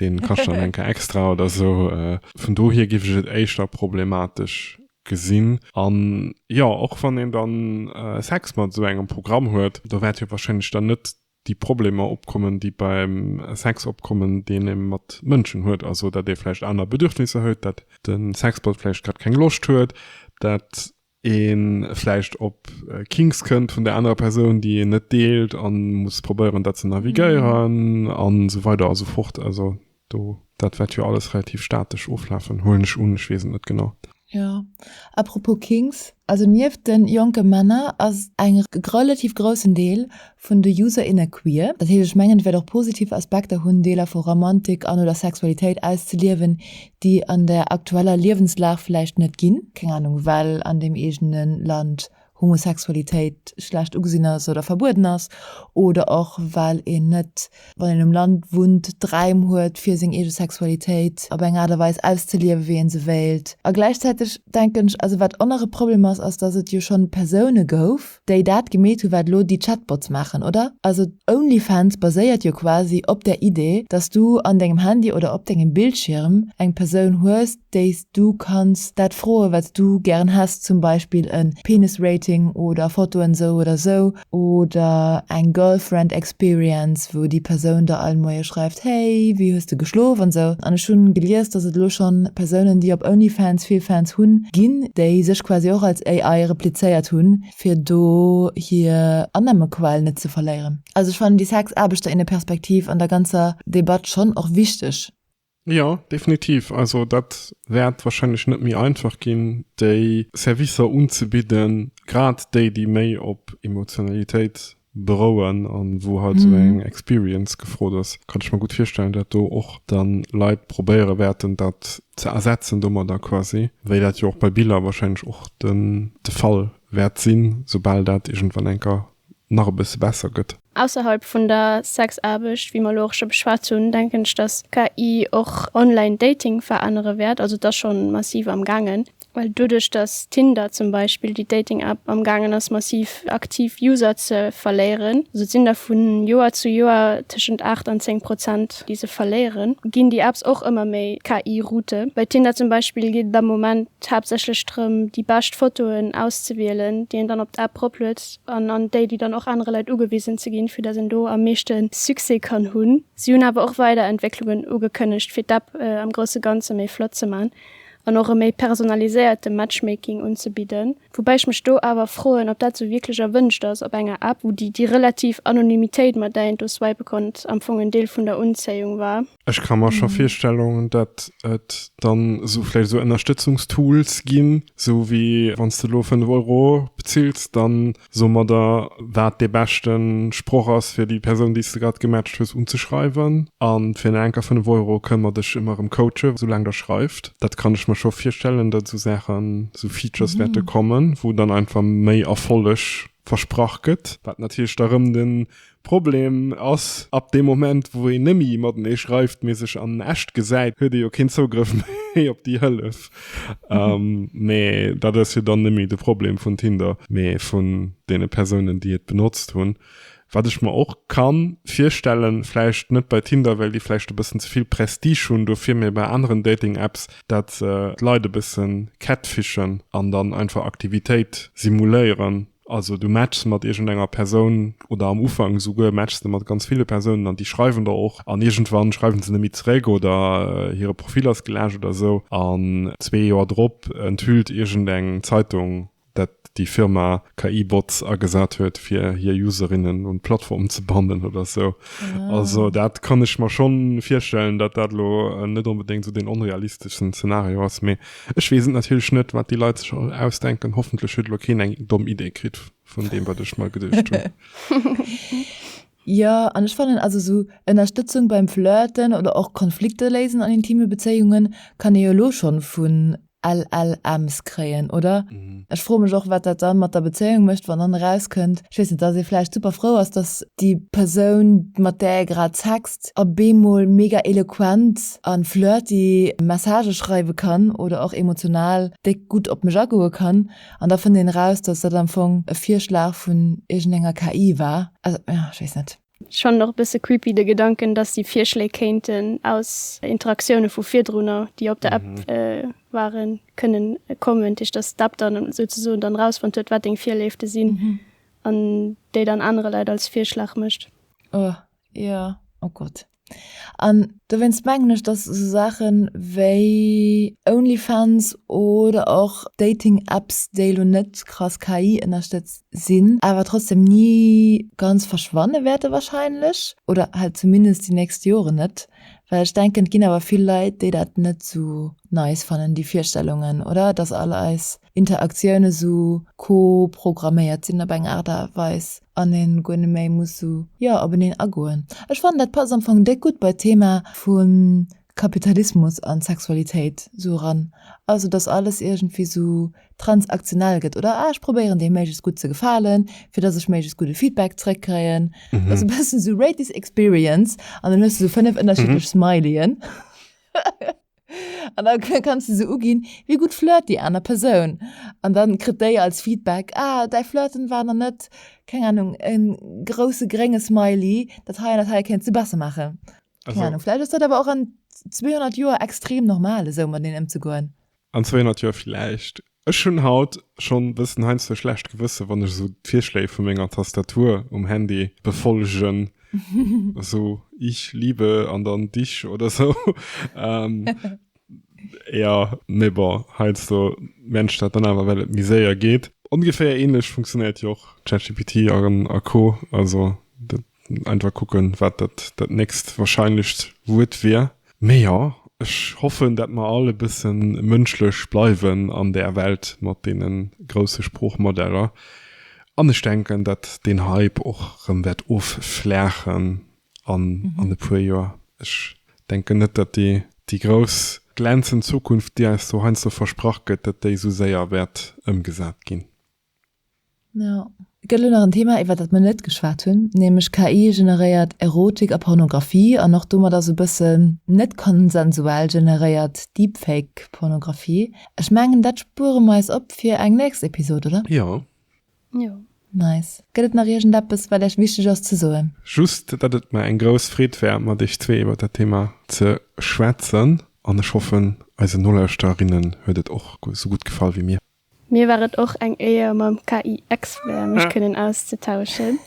deen kascht dann enker extra oder sou. Vun dohier giff ech et éischter problematesch gesinn. An jo, och wann een dann Sex mat sou engem Programm huet, do wäert jo wahrscheinlech dann net déi Problemer opkommen déi beim Sex opkommen deen ee mat Mënschen huet, also dat ee vläicht aner Bedürfnisser huet, dat den Sexbot vläicht grad keng Loscht huet, dat een vläicht op Kinks kënnt vun der anerer Persoun, déi een net deelt a muss probéieren, dat ze navigéieren a sou weider a sou fort. Also do, dat wäert jo alles relativ statesch oflafen, huelen ech un. Ech weess et net genau. Jo, à propos Kinks, also nieft de jonke Männer ass eng relativ groussen Deel vun de User, inne queer, dat heescht, ech mengen, et wäert och positiv Aspekter hunn, Deeler vu Romantik an, oder Sexualitéit auszeliewen, déi an der aktueller Liewenslag vläicht net ginn, keng Ahnung, well an deem eegene Land Homosexualitéit schlecht ugesinn ass oder verbueden ass, oder och well een net, wann een um Land wunnt, d'Räim huet, fir seng eege Sexualitéit op eng Aart a Weis auszeliewen, wéi ee se wéilt. A gläichzäiteg denken ech, also wat och nach e Problem ass, ass, datt et jo schonn Persoune gouf, déi dat gemeet hu wat elo déi Chatbots maachen, oder? Also Onlyfans baséiert jo quasi op der Idee, dass du an dengem Handy oder op dengem Bildschierm eng Persoun hues, déi s du kanns dat froe wat s du gären häss, zum Beispill e Penis-Rating oder Fotoen esou oder esou oder eng Girlfriend-Experience. Experience, wou déi Persoun der all Moie schreift, hey, wéi hues de geschlof an esou. An ech hunn gelies, dass et elo schonn Persounen, déi op Onlyfans vill Fans hunn, ginn, déi sech quasi och als AI replizéiert hunn, fir do hir Annahmequell net ze verléieren. Also ech fannen déi Sex-Aarbechter-inne-Perspektiv an der ganzer Debatt schonn och wichteg. Jo, definitiv. Also dat wäert warscheinlech net méi einfach ginn, déi Servicer unzebidden, grad déi, déi méi op Emotionalitéit berouen an wou halt esou eng Experience gefrot ass. Kann ech mer gutt virstellen, dat do och dann Leit probéiere wäerten, dat ze ersetzen domadder quasi, wéi dat jo och bei Biller warscheinlech och de Fall wäert sinn, soubal dat iergendwann enker nach e bësse besser gëtt. Ausserhalb vun der Sexaarbecht, wéi mer elo och scho beschwat hunn, denken ech, dass KI och online Dating verännere wäert. Also et ass scho massiv am gaangen, well doduerch dass Tinder zum Beispill, déi Dating App, am gaangen ass massiv aktiv User ze verléieren, also et sinn der vu Joer zu Joer tëschent 8 an 10 Prozent déi se verléieren, ginn déi Apps och ëmmer méi KI Route. Bei Tinder zum Beispill geet et am Moment haaptsächlech drëm déi bescht Fotoen auszewielen, déi een dann op d'App eropluet. huet an an déi déi dann och anere Leit ugewisen ze ginn, fir datt een do am meeschte Succès kann hunn. Si hunn awer och weider Entwécklungen ugekënnegt, fir d'App am grousse Ganze méi flott ze man an och e méi personaliséierte Matchmaking unzebidden. Woubäi ech mech do awer froen, ob dat sou wierklech erwënscht ass op enger App, wou déi relativ Anonymitéit, mat där een do swipe konnt, am Fong en Deel vun der Unzéiung war. Ech ka mer scho Virstellungen, datt et dann esou vläicht esou Ënnerstëtzungstools ginn, esou wéi wann s de elo 5 Euro bezills, dann soe mer der, wat dee beschte Sproch ass, fir déi Persoun, déi s de grad gematcht hues, unzeschreiwen. A fir en enker 5 Euro kënne mer dech ëmmer erëm coachen, esou laang der schreift. Dat kann ech mer scho virstellen, datt esou Saachen, esou Features wäerte kommen, wou dann einfach méi Erfolleg versprach gëtt. Wat natierlech da erëm de Problem ass, ab deem Moment wou een nemme matenee schreift, mee sech an echt gesäit, huet ee jo keen Zougrëff méi op déi Hëllef. Mee dat ass jo dann nemme de Problem vun Tinder, mee vun deene Persounen déi et benotzt hunn. Wat ech mer och ka virstellen, vläicht net bei Tinder, well déi vläicht e bëssen ze vill Prestige hunn dofir, mee bei aneren Dating Apps, dat d'Leit e bëssen catfishen an dann einfach Aktivitéit simuléieren. Also du matches mat iergend enger Persoun oder am Ufank esouguer matches de mat ganz ville Persounen an déi schreiwen der och an iergendwann schreiwen se net méi zeréck oder hire Profil ass geläscht oder esou an zwee Joer drop enthüllt iergend eng Zeitung dat déi Firma KI-Bots agesat huet fir hir Userinnen un d'Plattform ze bannen oder esou. Also dat kann ech mer schonn virstellen, dat dat elo net onbedéngt esou deen onrealisteschsten Zenario ass, mee Ech wees et natierlech net wat déi Leit sech ausdenken, hoffentlech huet elo keen eng domm Idee kritt vun deem wat ech mer geduecht hunn. Jo, an ech fannen also sou Ënnerstëtzung beim Flirten oder och Konflikte léisen an intime Bezéiungen kann ee jo elo schonn vun LLMs kréien, oder? Ech froe mech och wat dat dann mat der Bezéiung mécht wann dann erauskënnt Ech weess net, dass ee vläicht super frou ass, dass déi Persoun, mat där ee grad sext, a bemol mega eloquent a flirty Messagë schreiwe kann oder och emotional déck gutt op mech agoe kann. An da fënnt een eraus, dass dat am Fong e Virschlag vun iergendenger KI war. Also, jo, ech weess net. Ech fannen och e bësse creepy de Gedanken, dass déi Virschléi kéinten aus Interaktioune vu virdrunner, déi op der App waren, kënnen kommen. Dat heescht, dass d'App dann souzesoen dann erausfonnt huet, wat deng Virléifte sinn an déi dann anere Leit als Virschlag mécht. Oh, jo. Oh Gott. An dowéinst mengen ech, dass esou Saache wéi Onlyfans oder och Dating-Apps, déi elo net krass KI-ënnerstëtzt sinn, awer trotzdeem ni ganz verschwanne wäerte wahrscheinlech, oder halt zumindest déi nächst Joren net. Well ech denken, et ginn awer vill Leit, déi dat net esou nice fannen, déi Virstellungen, oder? Dass all eis Interaktioune esou co-programméiert sinn op eng Aart a Weis an een guer net méi muss esou jo op eneen agoen. Ech fannen dat passt am Fong déck gutt bei d'Thema vu Kapitalismus an Sexualitéit esou eran, also dass alles iergendwéi esou transaktionell gëtt oder ah ech probéieren deem méiglechst gutt ze gefalen fir dass ech méiglechst gudde Feedback zréck kréien. Dass e bëssen esou rate this experience an dann hues de esou 5 ënnerschiddlech Smiley'en. An da kanns de se uginn, wéi gutt flirt déi aner Persoun. An da kritt déi als Feedback, ah, däi Flirten war nach net, keng Ahnung, e grousse grénge Smiley, dat hei an dat hei kéints de besser maachen. Keng Ahnung, vläicht ass dat awer och an 200 Joer extrem normal, esou mat een ëmzegoen. An 200 Joer vläicht. Ech hunn haut schonn e bëssen heiansdo e schlecht Gewëssen, wann ech esou d'Virschléi vu menger Tastatur um Handy befollegen, esou Ich liebe an dann dich oder esou. Jo, mee bon, heiansdo mierkt ech dat dann awer, well et méi séier geet. Ongeféier ähnlech funktionéiert jo och ChatGPT a Co. Also dat. Einfach kucken, wat dat dat nächst wahrscheinlecht Wuert wier. Mee jo, ech hoffen, dat mer all e bësse mënschlech bleiwen an där Welt mat deene grousse Sproochmodeller. An ech denken, dat deen Hype och erëm wäert offlaachen an an e puer Joer. Ech denken net, dat déi déi grouss glänzend Zukunft, déi eis do heiansdo versprach gëtt, dat déi esou séier wäert ëmgesat ginn. Jo. Et gëtt elo nach en Thema, iwwert dat mer net geschwat hunn, nämlech KI-generéiert Erotik a Pornografie an och domat ass e bëssen net konsensuell generéiert Deepfake-Pornografie. Ech mengen, dat spuere mer eis op fir eng nächst Episod, oder? Jo. Jo. Nice. Gëtt et nach iergendeppes, wat Iech wichteg ass ze soen? Just, datt et mer eng grouss Freed war, mat Iech zwee iwwert dat Thema ze schwätzen. An ech hoffen, eisen Nolauschterinnen huet et och esou gutt gefall wéi mir. Mir war et och eng Éier mam KI-Expert mech kënnen auszetauschen.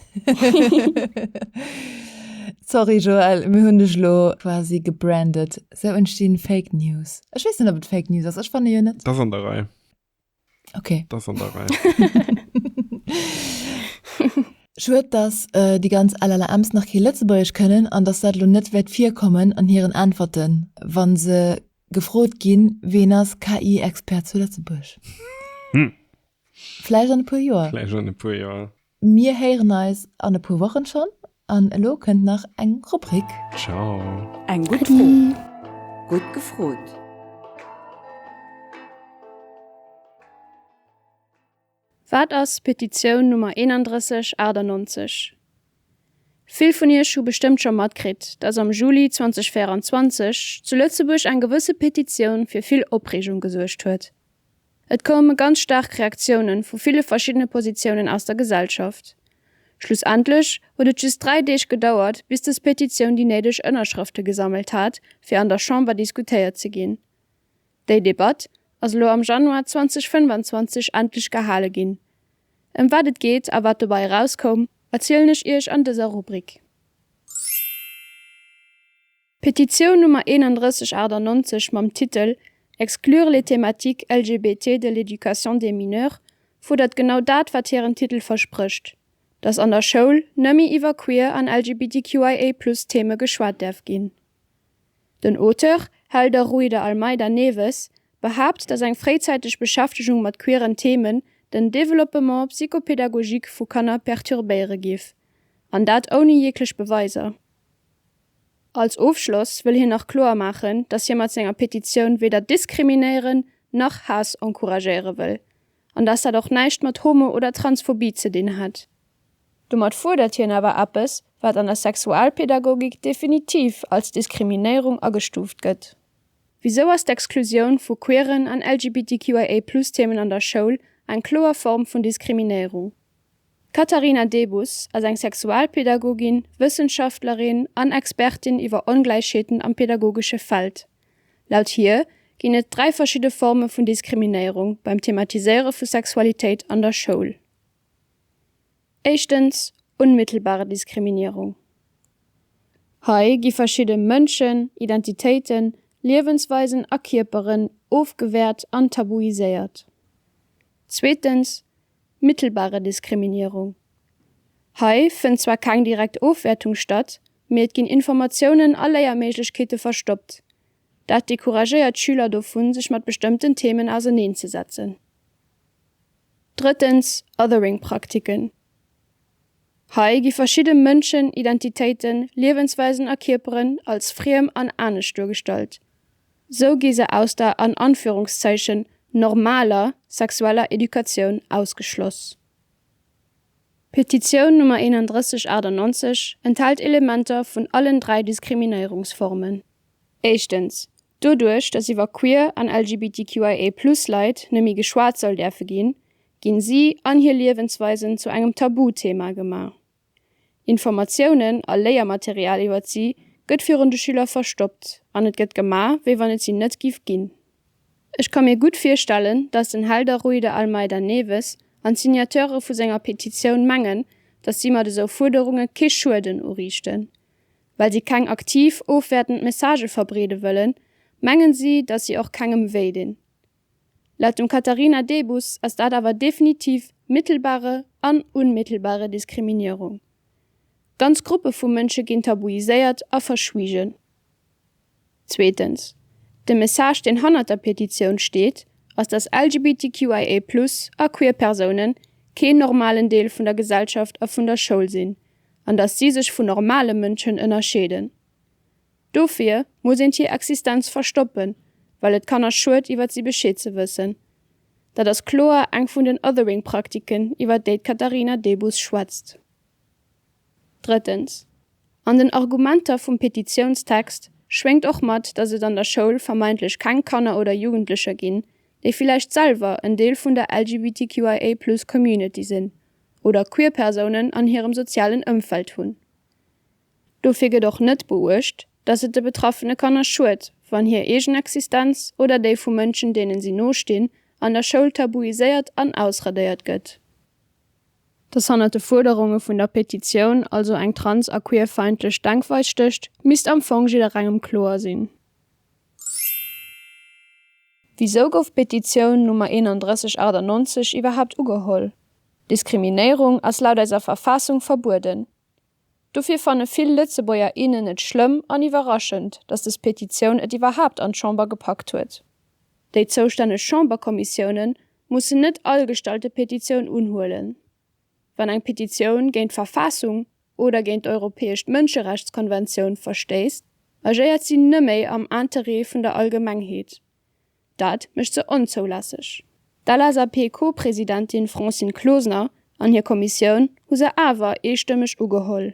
Sorry Joël, mir hunn dech elo quasi gebrandet. Sou entstinn Fake News. Ech weess net op et Fake News ass, ech fanne jo net. T'ass an der Rei. Ok. T'ass an der Rei. Schued dass déi ganz LLMs nach kee Lëtzebuergesch kënnen an dass dat elo net wäert virkommen an hiren Äntwerten, wann se Gefrot ginn, Ween ass KI-Expert zu Lëtzebuerg? Hm. Vläicht an e puer Joer. Vläicht an e puer Joer. Mir héieren eis an e puer Wochen schonn an elo kënnt nach eng Rubrik. Ciao. Eng gutt Fro, gutt gefrot. Wat ass Petitioun Nummer 3198? Vill vun Iech hu bestëmmt scho matkritt, dass am Juli 2024 zu Lëtzebuerg eng gewësse Petitioun fir vill Opreegung gesuergt huet. Et koume ganz staark Reaktiounen vu ville verschiddene Positiounen aus der Gesellschaft. Schlussendlech huet et just dräi Deeg gedauert, bis des Petitioun déi néideg Ënnerschrëfte gesammelt hat, fir an der Chamber diskutéiert ze ginn. Déi Debatt ass elo am Januar 2025 endlech gehale ginn. Ëm wat et geet a wat dobei erauskoum, erzielen ech Iech an dëser Rubrik. D'Petitioun Nummer 3198 mam Titel Exclure les thématiques LGBT de l'éducation des mineurs fuerdert genau dat, wat hiren Titel versprécht, dass an der Schoul nëmme iwwer queer an LGBTQIA+ Theme geschwat däerf ginn. Den Auteur Helder Ruy de Almeida Neves behaapt, datt eng fréizäiteg Beschäftegung mat queeren Themen den Développement psychopédagogique vu Kanner perturbéiere géif, an dat ouni jeeglech Beweiser. Als Ofschloss wëll hien nach kloer maachen, datt hie mat senger Petitioun weder diskriminéieren, nach Haass encouragéiere wëll. an dass dat och näischt mat Homo oder Transphobie ze dinn hätt. Domat fuerdert hien awer eppes, wat an der Sexualpedagogik definitiv als Diskriminéierung agestuuft gëtt. Wisou ass d'Exklusioun vu queeren an LGBTQIA-Plus-Themen an der Schoul eng kloer Form vun Diskriminéierung? D'Katharina Debus ass eng Sexualpedagogin, Wëssenschaftlerin an Expertin iwwer Ongläichheeten am pedagogesche Feld. Laut hir ginn et dräi verschidde Forme vun Diskriminéierung beim Thematiséiere vu Sexualitéit an der Schoul. Éischtens unmittelbare Diskriminierung. Hei gi verschidde Mënschen, Identitéiten, Liewensweisen a Kierperen ofgewäert an tabuiséiert. Zweetens mittelbare Diskriminierung. Hei fënnt zwar keng direkt Ofwäertung statt, mee et ginn Informatiounen a Léierméiglechkeete verstoppt. Dat decouragéiert d'Schüler dovun, sech mat bestëmmten Themen auserneenzesetzen. Drëttens, Othering-Praktiken. Hei gi verschidde Mënschen, Identitéiten, Liewensweisen a Kierperen als friem an anescht duergestallt. Sou gi se aus der an Anführungszeichen normaler sexueller Educatioun ausgeschloss. D'Petitioun Nummer 3198 enthält Elementer vun allen dräi Diskriminéierungsformen. Éischtens, doduerch datt iwwer queer an LGBTQIA+-Leit nëmme geschwat soll däerfe ginn, ginn si an hir Liewensweisen zu engem Tabuthema gemaach. Informatiounen a Léiermaterial iwwert si gëtt virun de Schüler verstoppt an et gëtt gemaach, wéi wann et si net giff ginn. Ech ka mir gutt virstellen, dass den Helder Rui de Almeida Neves an d'Signateure vu senger Petitioun mengen, dass si mat esou Fuerderunge kee Schueden uriichten. Well si keng aktiv ofwäertend Messagë verbreede wëllen, mengen si, dass si och kengem wéi dinn. Laut dem Katharina Debus ass dat awer definitiv mittelbare an unmittelbare Diskriminierung. Ganz Gruppe vu Mënsche ginn tabuiséiert a verschwiegen. Zweetens, de Message deen hannert der Petitioun steet, ass dass LGBTQIA+ a queer Persounen keen normalen Deel vun der Gesellschaft a vun der Schoul sinn, an dass si sech vu normale Mënschen ënnerscheeden. Dofir muss eent hir Existenz verstoppen, well et Kanner schued iwwert si Bescheed ze wëssen. Dat ass kloer eng vun den Othering Praktiken iwwert déi d'Katharina Debus schwätzt. Drëttens, An den Argumenter vum Petitiounstext schwéngt och mat, datt et an der Schoul vermeintlech keng Kanner oder Jugendlecher ginn, déi villäicht selwer en Deel vun der LGBTQIA plus Community sinn oder Queer Persounen an hirem sozialen Ëmfeld hunn. Dofir gëtt och net beuecht, datt et de betraffene Kanner schued, wann hir eegen Existenz oder déi vu Mënschen, deenen si no stinn, an der Schoul tabuiséiert an ausradéiert gëtt. Datt hannert de Fuerderunge vun der Petitioun also eng trans a queerfeindlech Denkweis stécht, misst am Fong jidderengem kloer sinn. Wisou gouf d'Petitioun Nummer 3198 iwwerhaapt ugeholl? Diskriminéierung ass laut eiser Verfaassung verbueden. Dofir fanne vill Lëtzebuerger, innen et schlëmm an iwwerraschend, datt des Petitioun et iwwerhaapt an d'Chamber gepackt huet. Déi zoustänneg Chamberkommissioune mussen net all gestallte Petitioun unhuelen. Wann eng Petitioun géint d'Verfaassung oder géint d'Europäescht Mënscherechtskonventioun verstéisst, agéiert si nëmme am Interêt vun der Allgemengheet. Dat mécht se onzoulässeg. D'LSAP-Co-Presidentin Francine Closener an hir Kommissioun hu se awer eestëmmeg ugeholl.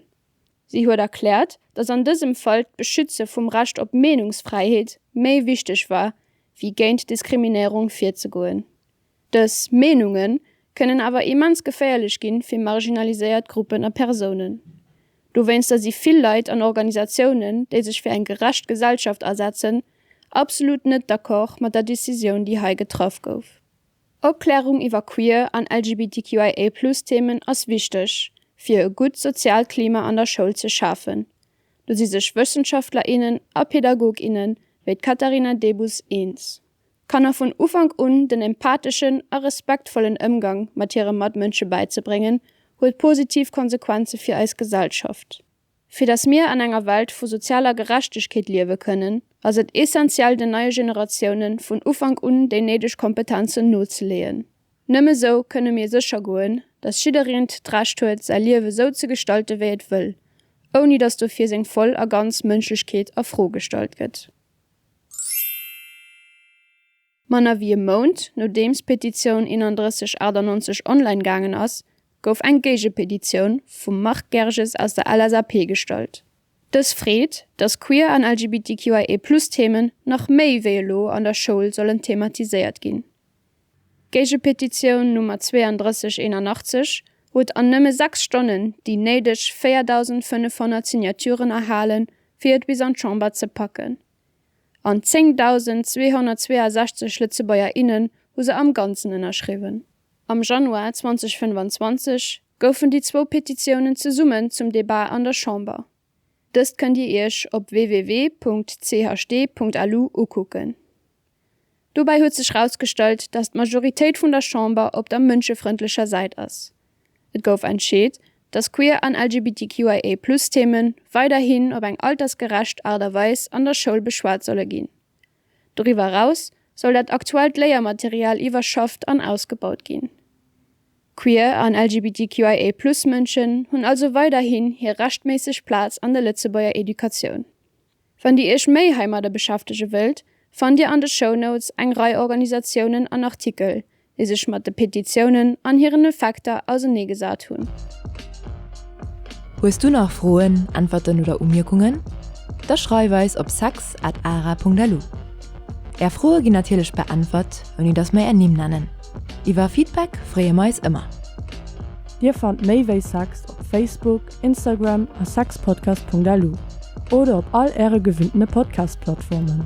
Si huet erkläert, datt an dësem Fall d'Beschütze vum Recht op Meenungsfräiheet méi wichteg war, wéi géint Diskriminéierung virzegoen. Dës Meenunge kënnen awer immens geféierlech gi fir marginaliséiert Gruppen a Persounen. Dowéinster si vill Leit an Organisatiounen, déi sech fir eng gerecht Gesellschaft asetzen, absolut net d'Accord mat der Decisioun, déi hei getraff gouf. Opklärung iwwer queer an LGBTQIA+-Themen ass wichteg, fir e gutt soziaalt Klima an der Schoul ze schafen. Do si sech Wëssenschaftler, innen a Pädagog, inne wéi d'Katharina Debus eens. Kanner vun Ufank un den empatheschen a respektvollen Ëmgang mat hire Matmënsche bäizebréngen, huet positiv Konsequenze fir eis Gesellschaft. Fir datt mir an enger Welt vu sozialer Gerechtegkeet liewe kënnen, ass et essentiell den neie Generatioune vun Ufank un déi néideg Kompetenzen nozeleeën. Nëmme esou kënne mir sécher goen, datt jiddereent d'Recht huet säi Liewe sou ze gestalte wéi et wëll, ouni datt dofir seng voll a ganz Mënschlechkeet a Fro gestallt gëtt. Manner wéi e Mount nodeems d'Petitioun 3198 online gaangen ass, gouf eng Géigepetitioun vum Marc Gerges aus der LSAP gestallt. Dës freet, datt Queer an LGBTQIA+ Themen nach méi wéi elo an der Schoul sollen thematiséiert ginn. D'Géigepetitioun Nummer 3281 huet an nëmme sechs Stonnen déi néideg 4.500 Signaturen erhalen, fir et bis an d'Chamber ze packen. An 10.262 Lëtzebuerger, innen hu se am Ganzen ënnerschriwwen. Am Januar 2025 goufen déi zwou Petitiounen zesummen zum Debat an der Chamber. Dëst kënnt Dir Iech op www.chd.lu ukucken. Dobäi huet sech rausgestallt, datt d'Majoritéit vun der Chamber op der mënschefrëndlecher Säit ass. Et gouf entscheet, datt Queer an LGBTQIA+ Themen weiderhin op eng altersgerecht Aart a Weis an der Schoul beschwat solle ginn. Doriwwer eraus soll dat aktuellt Léiermaterial iwwerschafft an ausgebaut ginn. Queer an LGBTQIA-Plus-Mënschen hunn also weiderhin hir rechtméisseg Plaz an der Lëtzebuerger Educatioun. Wann Dir Iech méi heimadder beschäftege wëllt, fannt Dir an de Shownotes eng Rei Organisatiounen an Artikel, déi sech mat de Petitiounen an hiren Effekter auseneegesat hunn. Hues du nach Froen, Äntwerten oder Umierkungen? Da schreif eis op sex at ara.lu. Är Froe ginn natierlech beäntwert, ouni datt mer är Nimm nennen. Iwwer Feedback freeë mer eis ëmmer. Dir fannt méi wéi sex op Facebook, Instagram a sexpodcast.lu oder op all äre gewinntene Podcast-Plattformen.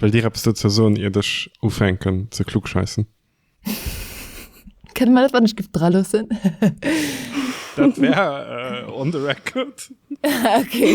Wëllt Dir eppes dozou soen, iert ech ufänken ze klugscheissen? Kënne mer dat wann Gift dra loossen? Dat wär uh, on the record. okay.